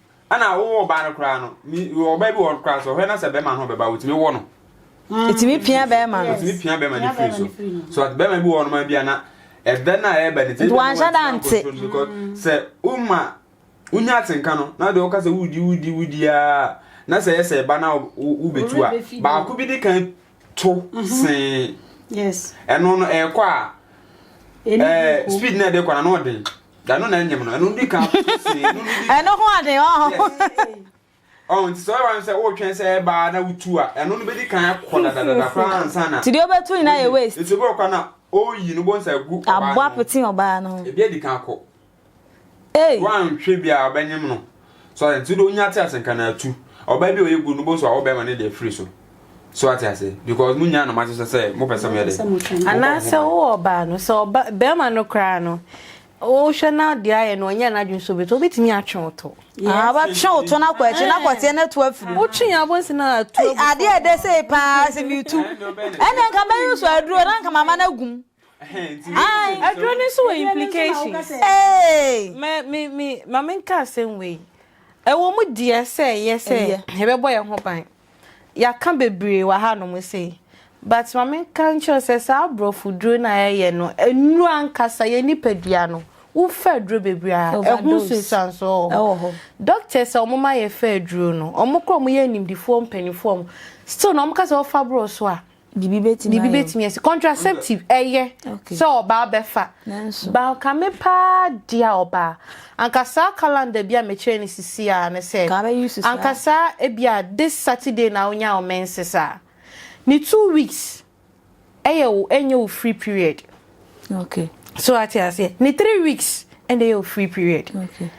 ɛna wowɔ ɔbaa no koraa no ɔbaa bi wɔ hɔ koraa sɛ ɔhwɛ na sɛ bɛrima no ɔbɛba wotumi wɔ no ɛtumi hmm. pia bɛrima no ɛtumi pia bɛrima no firi so so at bɛrima bi wɔ hɔ no bi ana ɛbɛ no a ɛba ne tiri wanhyɛ da nte hmm. sɛ woma wonya atenka no na deɛ woka sɛ wodi wodi wodi a na sɛ yɛ sɛ ɛba na wobɛtu a baako bi de kan to mhm. see ɛno no ɛkɔ a speed na ɛde kɔ na na ɔden Da no na nyem no, ɛno di kan se no no di. Ɛno ho ade ɔho. Ɔho nti sɛ ɔyɛ sɛ wotwɛn sɛ ɛba na wotu a, ɛno no bɛdi kan akɔ dadadada koraa ansa na. Ti deɛ ɔbɛtu nyinaa yɛ waste. Nti ɔbɛwɔ kwa na ɔyi no bɔ nsa gu ɔbaa no ho. Aboa pete ɔbaa no ho. Ebi adi kan akɔ. Ei. Wanhwɛ bi a ɔbɛnyem no. So ate nti de onya ate ase nka na atu. Ɔbaa bi a ɔyɛ good no bosu awɔ bɛrima ne deɛ firi so. So ate ase because mo nyinaa na mo ahyehyɛ sɛ mo pɛ sɛ mo yɛ dɛ. Anaasɛ wo wɔ ɔbaa no sɛ ɔba bɛrima no koraa no wohwɛ na deɛ ayɛ no ɔnyɛ n'adwene so bɛtɔ obɛtumi atwe wo to. Aha ɔbɛtwe wo to na kɔ akyi na kɔteɛ na atu afiri. Wotwe yɛn abonsi na atu. Adeɛ ɛdɛ sɛ paa sɛ metu. Ɛnna nka mɛyi so aduro na nka mama no agum. Aduro no nso wɔ implications. Hey! Me me me ma me nka asɛm wei. Ɛwɔ mu deɛ sɛ yɛ sɛ yɛbɛbɔ yɛn ho ban. Yɛaka bebree wɔ ha nom sei. But ma me nka nkyerɛ sɛ saa aborɔfo duro no a yɛyɛ no, nnuro ankasa yɛ nipadua no. Wofa aduro bebree a, ɛho nsunsuansoɔ wɔ hɔ. Doctors a wɔma yɛfa aduro no, wɔn koraa wɔyɛ animdifoɔ mpanimfoɔ, still na wɔka sɛ wɔfa boro so a, Biribi betumi ayɛ. Biribi betumi asi. Contraceptive ɛyɛ sɛ ɔbaa bɛfa. Nanso. Ba nka me paa dea ɔbaa. Anka saa calendar bi a mekyerɛ no sisi a ne sɛ. Ka bɛ use saa. Anka saa ebi a this Saturday na wonya wo menses a. Ne two weeks ɛyɛ wo ɛnyɛ wo free period. okay so ate aseɛ ne three weeks ɛna ɛyɛ free period okay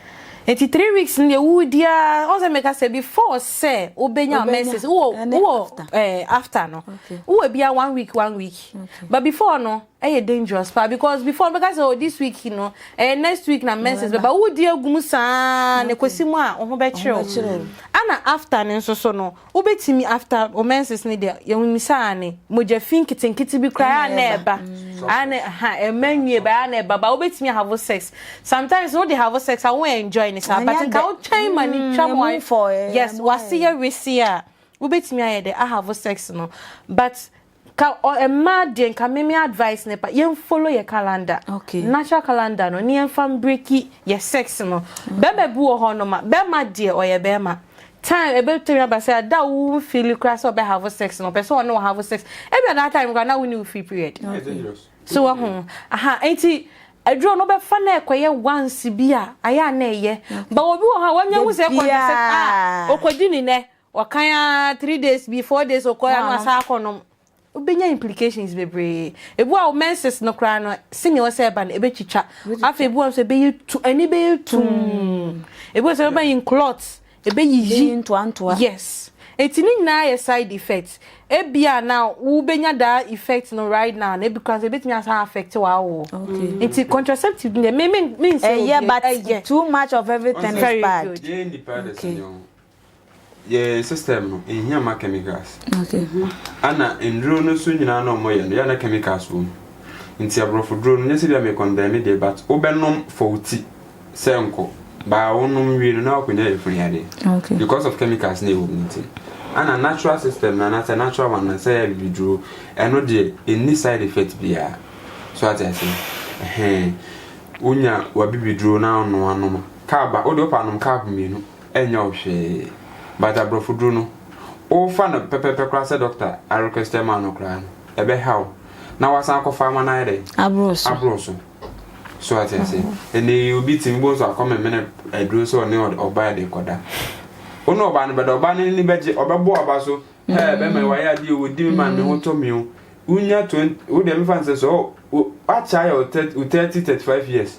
nti three weeks no deɛ wodi a ɔn sɛ mɛka sɛ before sɛ wobɛnya menses wowɔ wowɔ eh, after no wowɔ okay. bia one week one week okay. but before no ɛyɛ eh, dangerous paa because before no bɛka sɛ oh this week no eh, next week na menses bɛba wodi agu mu saa na kɔsi mu a wo ho bɛkyerɛw ana after no nso so no Wobɛtumi after wo menses no deɛ yɛhunu sɛ aane mogya fi nketenkete bi koraa a na ɛba aane ha ɛma nwie bɛ a na ɛba ba wobɛtumi ahavo sex sometimes no wode havo sex a wo enjoy ne saa but nka wotwɛn ma ne twa mu ayɛ yes wase yɛ wesee a wobɛtumi ayɛ dɛ ahavo sex no but Ka ɔ ɛma deɛ nka me me advice ne pa yɛn follow yɛ calendar okay. natural calendar no ne yɛn fa breaki yɛ sex no okay. bɛma bi wɔ hɔ no ma bɛma deɛ ɔyɛ bɛma time ebe to nya ba sɛ da wo feel kura sɛ ɔbɛ have sex no pɛ sɛ ɔne wɔ have sex ebi that time kura na wo ne wo free period okay. so wɔ ho aha eti aduro no bɛfa na ɛkɔyɛ once bi a ayɛ a na ɛyɛ ba obi wɔ hɔ a wɔnyɛ ho sɛ ɛkɔdi sɛ ah ɔkɔdi ne nɛ Ɔkan ara three days bi four days ɔkɔɛ ano asa akɔ nom. Wobɛnya implications bebree. Ebu a wo menses no koraa no sini wɔ sɛ ɛba no ɛbɛtwitwa. Afei ebu a nso ɛbɛyɛ tu ani bɛyɛ tum. Ebu nso ɛbɛba in clot ɛbɛyiyi. Yes. Eti ne nyinaa yɛ side effect. Ebi a na wobɛnya daa effect no right now no ebi koraa nso ɛbɛtumi asan affect w'awoɔ. Nti contraceptive deɛ me me me nsɛ obiara ɛyɛ. Ɛyɛ but too much of everything is bad. Very good. yɛ system no nhia ma chemicals ana nduro no so nyinaa na ɔmo yɛ no yɛ na chemicals wɔ mu nti aborɔfo duro no nyɛ sɛ bi a mi kɔndɛn mi deɛ but wobɛnom fa wo ti sɛ nkɔ baa wonom wie no na wakɔnya yɛ funu yadeɛ because of chemicals na ɛwɔ mu nti ana natural system na anaasɛ natural one na sɛ yɛ bibi duro ɛno deɛ ɛnni side effect biara so ate ase ɛhɛn wonya wabibi duro na ɔno anoma kaaba wode wopa anom kaabo mmienu ɛnyɛ wo hwee but abrɔfo duru no wofa no pɛpɛpɛ koraa sɛ doctor arequested ma no koraa no ɛbɛha wo na wasan akɔfa ama no ayɛ dɛn aboro so so ate ase ɛnna yi obi tumi bɔ nso akɔ memene aduro sɛ ɔne ɔbaa de kɔda wo ne ɔbaa no bɛda ɔbaa no ne bɛgye ɔbɛbɔ aba so ɛɛ bɛma wayɛ adeɛ wɔ di mi ma me ho tɔ mi o wonya twenty wo deɛ mefa nsɛ sɛ o wakyɛ ayɛ o thirty thirty five years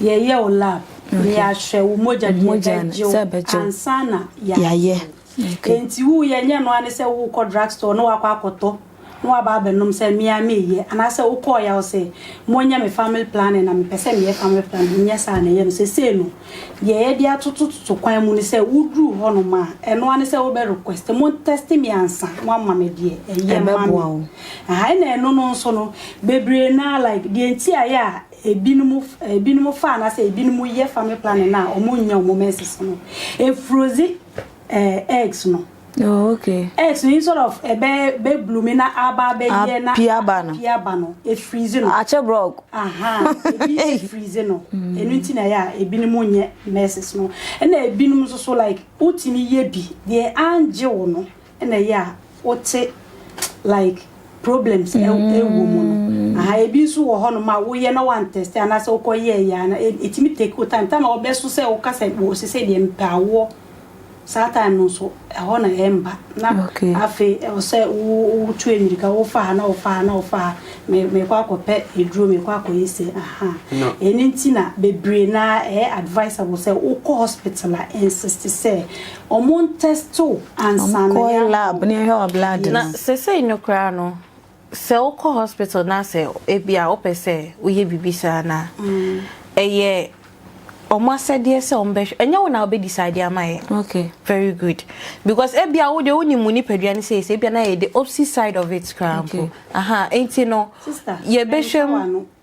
yɛyɛ wo lab na yɛahwɛ wo mogya deɛ ɛbɛgyew ansa na yɛayɛ nti wo yɛnyɛ no ane sɛ wokɔ drug store na wakɔ akɔtɔ na waba abɛnom sɛ mmea meyɛ anaasɛ wokɔɔ yɛ wo sɛ monyɛ me family planning na mepɛ sɛ meyɛ family planning nyɛ saa na ɛyɛ no sesei no yɛyɛ de atotototo kwan mu ne sɛ woduru hɔ nom a ɛno ane sɛ wobɛ request mo test me ansa mo ama me deɛ ɛyɛ ma me ɛna ɛno no nso no bebree naa like deɛ nti ayɛ a Ebinom ebinom fa anaasɛ ebinom yɛ family planning a wɔn nnya wɔn mɛnse so no efurodze ɛɛ eggs no. Oh okay. Eggs no instead of ɛbɛ bɛ bloomi na aba abɛyɛ na apiaba no apiaba no efrize no. Akyɛ brɔg. Aha ebi efrize no ɛnu nti na ɛyɛ a ebinom nyɛ mɛnses no ɛna ebinom nso so like wotumi yɛ bi deɛ angye wo no. na ɛyɛ a wote like problems ɛwɔ mu no mm. aha ebi nso wɔ hɔ no ma woyɛ na wan test anaasɛ wokɔ yɛ yɛ ana e, etimi take wo time time a wɔbɛ so sɛ woka sɛ wɔ sese deɛ mpɛ awoɔ saa time no nso ɛhɔ na ɛmba na afei ɛwɔ sɛ wo wo tu emirika wofa ha na wofa ha na wofa ha me mekɔ akɔpɛ eduro mekɔ akɔyɛ sɛ aha ɛne nti na bebree na ɛyɛ advisable sɛ wokɔ hospital a insist sɛ Ɔmo ntɛstew ansa na yɛama ɔmo. Ɔmo kɔɔ lab ne yɛhwɛ wɔ blood no. Na sesei no koraa no sɛ wokɔ hospital na sɛ ebia wopɛ sɛ woyɛ biribi saa no a, ɛyɛ ɔmo asɛdeɛ sɛ ɔmo bɛhwɛ, ɛnyɛ wo na wobɛ decide ama yɛ. Okay. Very good. Because ebia wo deɛ wonim wo nipadua no seisei, ebia na ɛyɛ the opposite side of it koraa mpo. Okay. Aha, enti no Sister, yɛbɛhwɛ mu. mɛmfa w'ano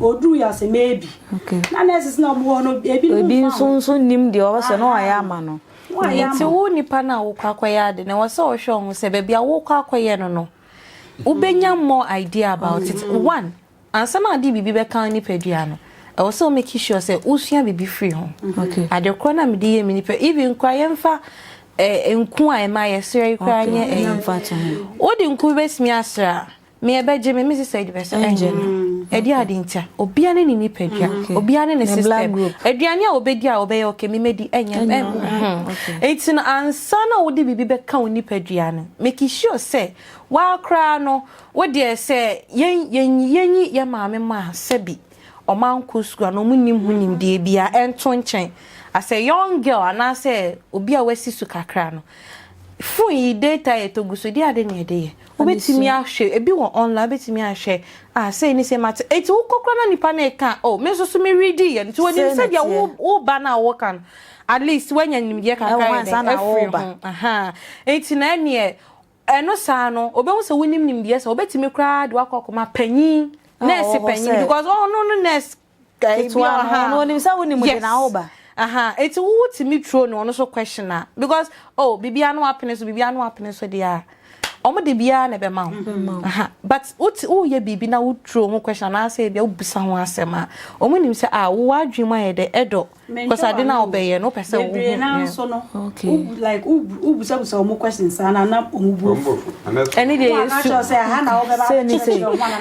Oduui ase mɛɛ bi. Na nurses na wɔn wɔ hɔ no ebinom nfa ho. Ebi nso nso nim deɛ ɔwɔ sɛ na wɔayɛ ama no. Nti wo nipa no a wokɔ akɔyɛ ade no ɛwɔ sɛ ɔhwɛ ɔho sɛ baabi a wokɔ akɔyɛ no no wobɛnya more idea about it one ansa na ade biribi bɛka wo nipadua no ɛwɔ sɛ womeki sure sɛ wosua biribi firi ho ade korɔ na mede yɛ me nipa even kora yɛmfa eh, nku a ɛma yɛsrɛ yi koraa nyɛ ɛyi wode nku bɛtumi asra Me ɛbɛgye me mese sɛ ɛde bɛsɛ ɛnyɛ no ɛde ade nti a obia ne ne nipadua mm, obia ne ne system aduane a wɔbɛdi a wɔbɛyɛ ɔkɛ memɛdi ɛnyɛ ɛnti mm. no ansa na wode biribi bɛka wo nipadua no make sure sɛ woakoraa no wodeɛ sɛ yɛnyi yɛ maame ma sɛ bi ɔma nkɔ sukuu anaa ɔmo nim ho nimdeɛ bia ɛnto nkyɛn as a young girl anaasɛ obi a wasi su kakra no fon yi data yɛ tɔgu so de ade ne ɛde yɛ Wobɛtumi ahwɛ ebi wɔ online wobɛtumi ahwɛ a sei ne sei mate eti wokɔ kora na nipa no reka a oh me nso so me readi yɛ nti wɔnim sɛ deɛ wo wo ba no a wɔka no at least woanya nimdeɛ kakra yɛ dɛ afiri ho aha eti na ɛneɛ ɛno saa no obɛhu sɛ wonim nimdeɛ sɛ wobɛtumi koraa de wakɔ akɔma panyin nurse panyin because ɔno no nurse ketewa no ɔno onim sɛ wonim de na woba aha eti wo wotumi turo no ɔno so question a because oh bibia no apene so bibia no apene so deɛ a ɔmo de biara na ɛbɛma wo mm-hmm. aha but wote woyɛ biribi na woturo ho question anaasɛ ebia wobisa ho asɛm a ɔmo nim sɛ a ah, wo adwene mu ayɛ dɛ ɛdɔ Because ade na wobɛyɛ no pɛ sɛ wo bebree na nso no okay like wobusabusa wɔn questions saa na na wɔn bu ɛne deɛ yesu sɛ ni sɛ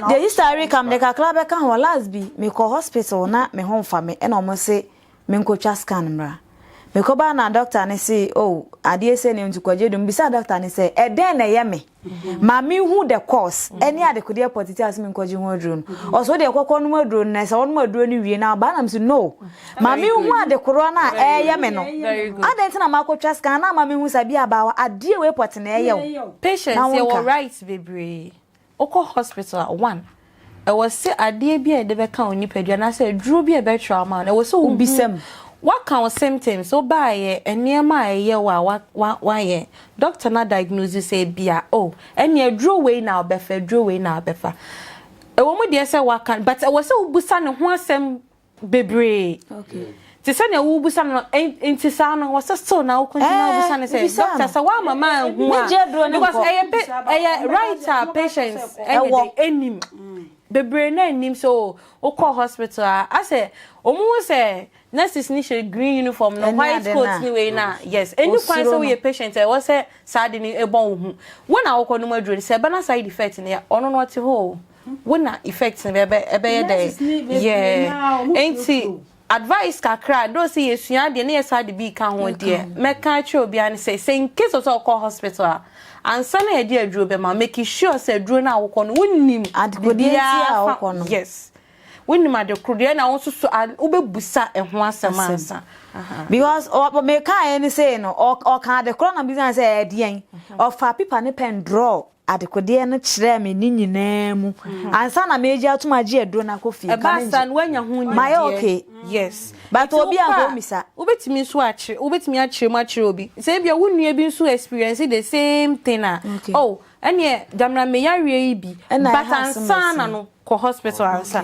deɛ yi saa reka mede kakra bɛka ho last bi mekɔ hospital na me ho mfa me ɛna wɔn se menkɔtwa scan mmra mekɔbaa na doctor ne se oh adeɛ sɛ ne nti kɔgye dum bisa doctor ne sɛ ɛdɛn na ɛyɛ me ma menhu the course ɛne adekodeɛ pɔtete a sɛ menkɔgye ho aduro no ɔsɛ wodeɛ kɔkɔ nom aduro no na sɛ wɔnom aduro no wie na ɔbaa nam sɛ no ma menhu adekoroɔ no a ɛyɛ me no adɛn nti na makɔtwa scan na ama menhu sa bi abaawa adeɛ wei pɔte na ɛyɛ wo patients yɛwɔ right bebree wokɔ hospital a one Ɛwɔ sɛ adeɛ bi a yɛde bɛka wo nipadua anaasɛ aduro bi a ɛbɛtwerɛ ama no, ɛwɔ sɛ wobisa mu. Waka wo symptoms, wobaeɛ, nneɛma a ɛyɛ wo a wayɛ. Doctor no adiagnose sɛ ebia, oh, ɛnneɛ aduro wei na wobɛfa, aduro wei na wobɛfa. Ɛwɔ mu deɛ sɛ waka, but ɛwɔ sɛ wobisa ne ho asɛm bebree te sɛ nea wobisa no nti saa no wɔ sɛ still na wokɔ gyina eh, wobisa no sɛ doctor sɛ woama ma anhu a because ɛyɛ ɛyɛ right a patients ɛyɛ de anim mm. bebree na anim sɛ o oh, wokɔ hospital a asɛ wɔn ho sɛ nurses ni hyɛ green uniform no white coat ni wei na mm. yes ɛni kwan sɛ woyɛ patient ɛwɔ sɛ saa de no ɛbɔ wo ho wɔn a wɔkɔ no mu aduro no sɛ ɛbɛna side effect no yɛ ɔno no ɔte hɔ o. wo na effect no bɛbɛ ɛbɛyɛ dɛ yɛ nti advice kakra dɛ ɔsɛ yɛsua deɛ ne yɛsa de bi ka ho deɛ mɛka akyerɛ obiara ne sɛ sɛ in case ɔsɛ ɔkɔ hospital a ansa na yɛde aduro bɛma make sure sɛ aduro no a wokɔ no wonim adebiara fa yes wonim ade koro deɛ na wo nso so wobɛbusa ɛho asɛm ansa because mekaeɛ ne sei no ɔka ade korɔ na bisa sɛ ɛdeɛn ɔfa pipa ne pɛn draw Adekodeɛ no kyerɛɛ me ne nyinaa mu. Ansa na meregye atom agye aduro no akɔ fie. Ɛba saa no woanya ho nimdeɛ. Mayɛ okay. Yes. But obi a nka omisa. Wobɛtumi nso akyerɛ, wobɛtumi akyerɛ mu akyerɛ obi. Sɛ ebia wo nua bi nso experience the same thing a, oh, ɛneɛ Gyamina me yareɛ yi bi, but ansa na no kɔ hospital ansa.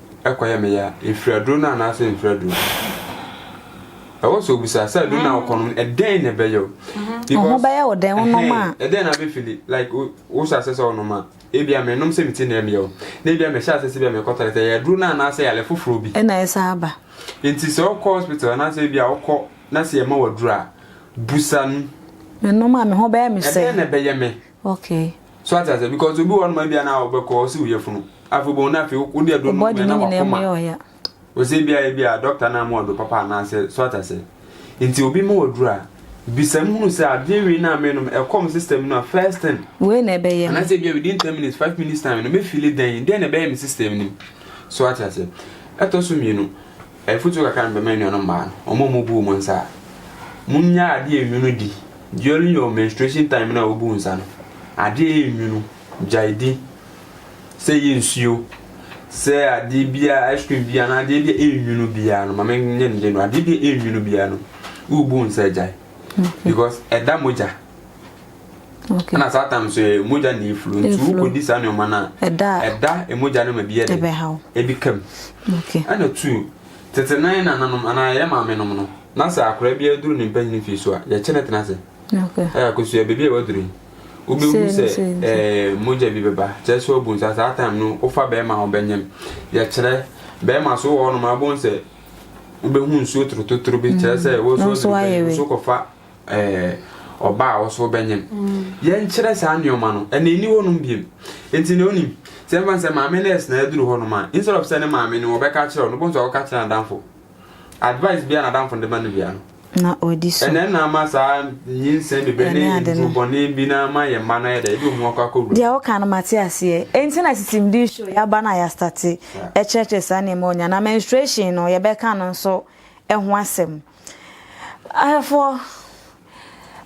ɛkɔ yɛ me ya efiri aduro no anaasɛ nfiri aduro no ɛwɔ sɛ obisa sɛ aduro no a ɔkɔ nom ɛdɛn na ɛbɛyɛ o ɔho bɛyɛ wo dɛn wonom a ɛdɛn na bɛfili like wo sɛ asɛ sɛ ɔnom a ebi a menom sɛ meti na ɛmeyɛ o na ebi a mehyɛ asɛ sɛ bi a mekɔtɔ no sɛ yɛ aduro no anaasɛ yale foforɔ bi ɛna ɛsa aba nti sɛ ɔkɔ hospital anaasɛ ebi a ɔkɔ na sɛ yɛma waduro a busa no menom a me ho bɛyɛ me sɛ ɛdɛn na ɛbɛyɛ me Okay. So ate ase because obi wɔ no ma bia na ɔbɛkɔ ɔsi wo yɛfunu afei bɔn na afei wode ɛdo no mɛ na wakoma ɔsɛ bia yɛ bia dɔkta na ama ɔdo papa anaasɛ so ate ase nti obi ma waduru a bisam hunu sɛ adeɛ wei na amɛ nom ɛkɔm system no a first thing wei na ɛbɛyɛ no anaasɛ bia within ten minutes five minutes time no mɛfili dɛn dɛn na ɛbɛyɛ me system no so ate ase ɛtɔ so mmienu Afotuo kakra na mebɛma anuanom mmaa no, wɔn a wɔbu wɔn nsa a, Monnya adeɛ nwunu di, during your menstruation time no a wobu nsa no, adeɛ yɛ nwunu, gyae di, sɛ yɛ nsuo, sɛ adeɛ bia, ice cream bia, anaa adeɛ deɛ ɛyɛ nwunu bia no, ma menyɛ no general, adeɛ deɛ ɛyɛ nwunu bia no, wobu nsa agyae, because ɛda mogya. okay na saa tam so yɛ mogya na eflu nti wo kodi saa nneɛma na ɛda ɛda mogya no ma bi yɛ de ebi kam okay ɛna tu tete nan na nanom ana yɛ maame nom no na sɛ akora bi aduru ne mpanyin fi so a yɛ kyene tena se okay ɛyɛ kosua bebi a waduru yi wobɛhu sɛ ɛɛ mogya bi bɛba kyerɛ sɛ wabu nsa saa time no wofa bɛrima a wobɛnyem yɛkyerɛ bɛrima so wɔ hɔ nom abom sɛ wobɛhu nsuo torototoro bi kyerɛ sɛ wɔsuo so kɔfa ɛɛ ɔba a ɔso bɛnyem yɛnkyerɛ saa nneɛma no ɛna ɛni hɔnom biem nti na onim sɛ mfa sɛ maame nurse na aduru hɔnom a instead of sɛ ne maame no wɔbɛka kyerɛ no bɔnso a wɔka kyerɛ n'adamfo advice bia n'adamfo de ma no bia no na ɔdi so ɛna ɛna ama saa nyinsɛn bebree ne ntubɔne bi na ama yɛ mma no ayɛ dɛ ebi mu akɔ akɔwura deɛ wɔka no mate aseɛ ɛnti na sisimdi show yɛaba no a yɛastate ɛkyerɛkyerɛ saa nneɛma ɔnya na menstruation no yɛbɛka no nso ɛho asɛm Ahwɛfoɔ,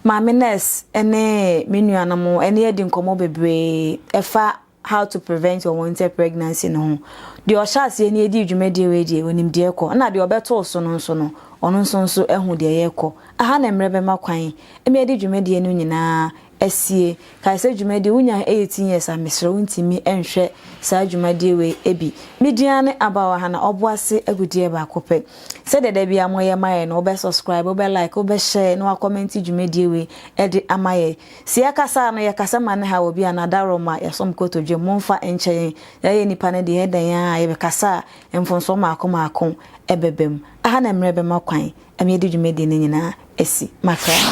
maame nurse ne me nuanom ne adi nkɔmmɔ bebree ɛfa how to prevent unwanted pregnancy no ho. Deɛ ɔhyɛ aseɛ ne ɛdi dwumadie wei deɛ onim deɛ ɛkɔ ɛna deɛ ɔbɛtoo so no nso no ɔno nso nso ahu deɛ yɛkɔ. Aha na mmerɛ bɛma kwan ma yɛadi dwumadie no nyinaa asie. Kae sɛ dwumadie wo nyan eighteen years a mesrɛ wo ntimi nhwɛ saa dwumadie wei ɛbi. Me din ara ne Abaawa Hannah Ɔboase agudeɛ baako pɛ. Sɛdeɛ da biara mo yɛ ma yɛn no wo bɛ subscribe, wo bɛ like, wo bɛ share na wa comment dwumadie wei ɛde ama yɛn. Se yɛ kasa a no yɛ kasa ma ne haw obi anaa dawuro ma yɛ som kotodwem mo nfa nkyɛ yɛn. Yɛ yɛ nipa no deɛ yɛ dɛn ara a yɛ bɛ kasa a mfonsoɔ maako maako ɛbɛ bɛ mu. Aha na mmerɛ bɛ ma kwan. Ɛna yɛde dwumadie no nyinaa asi. Mafrɛ no.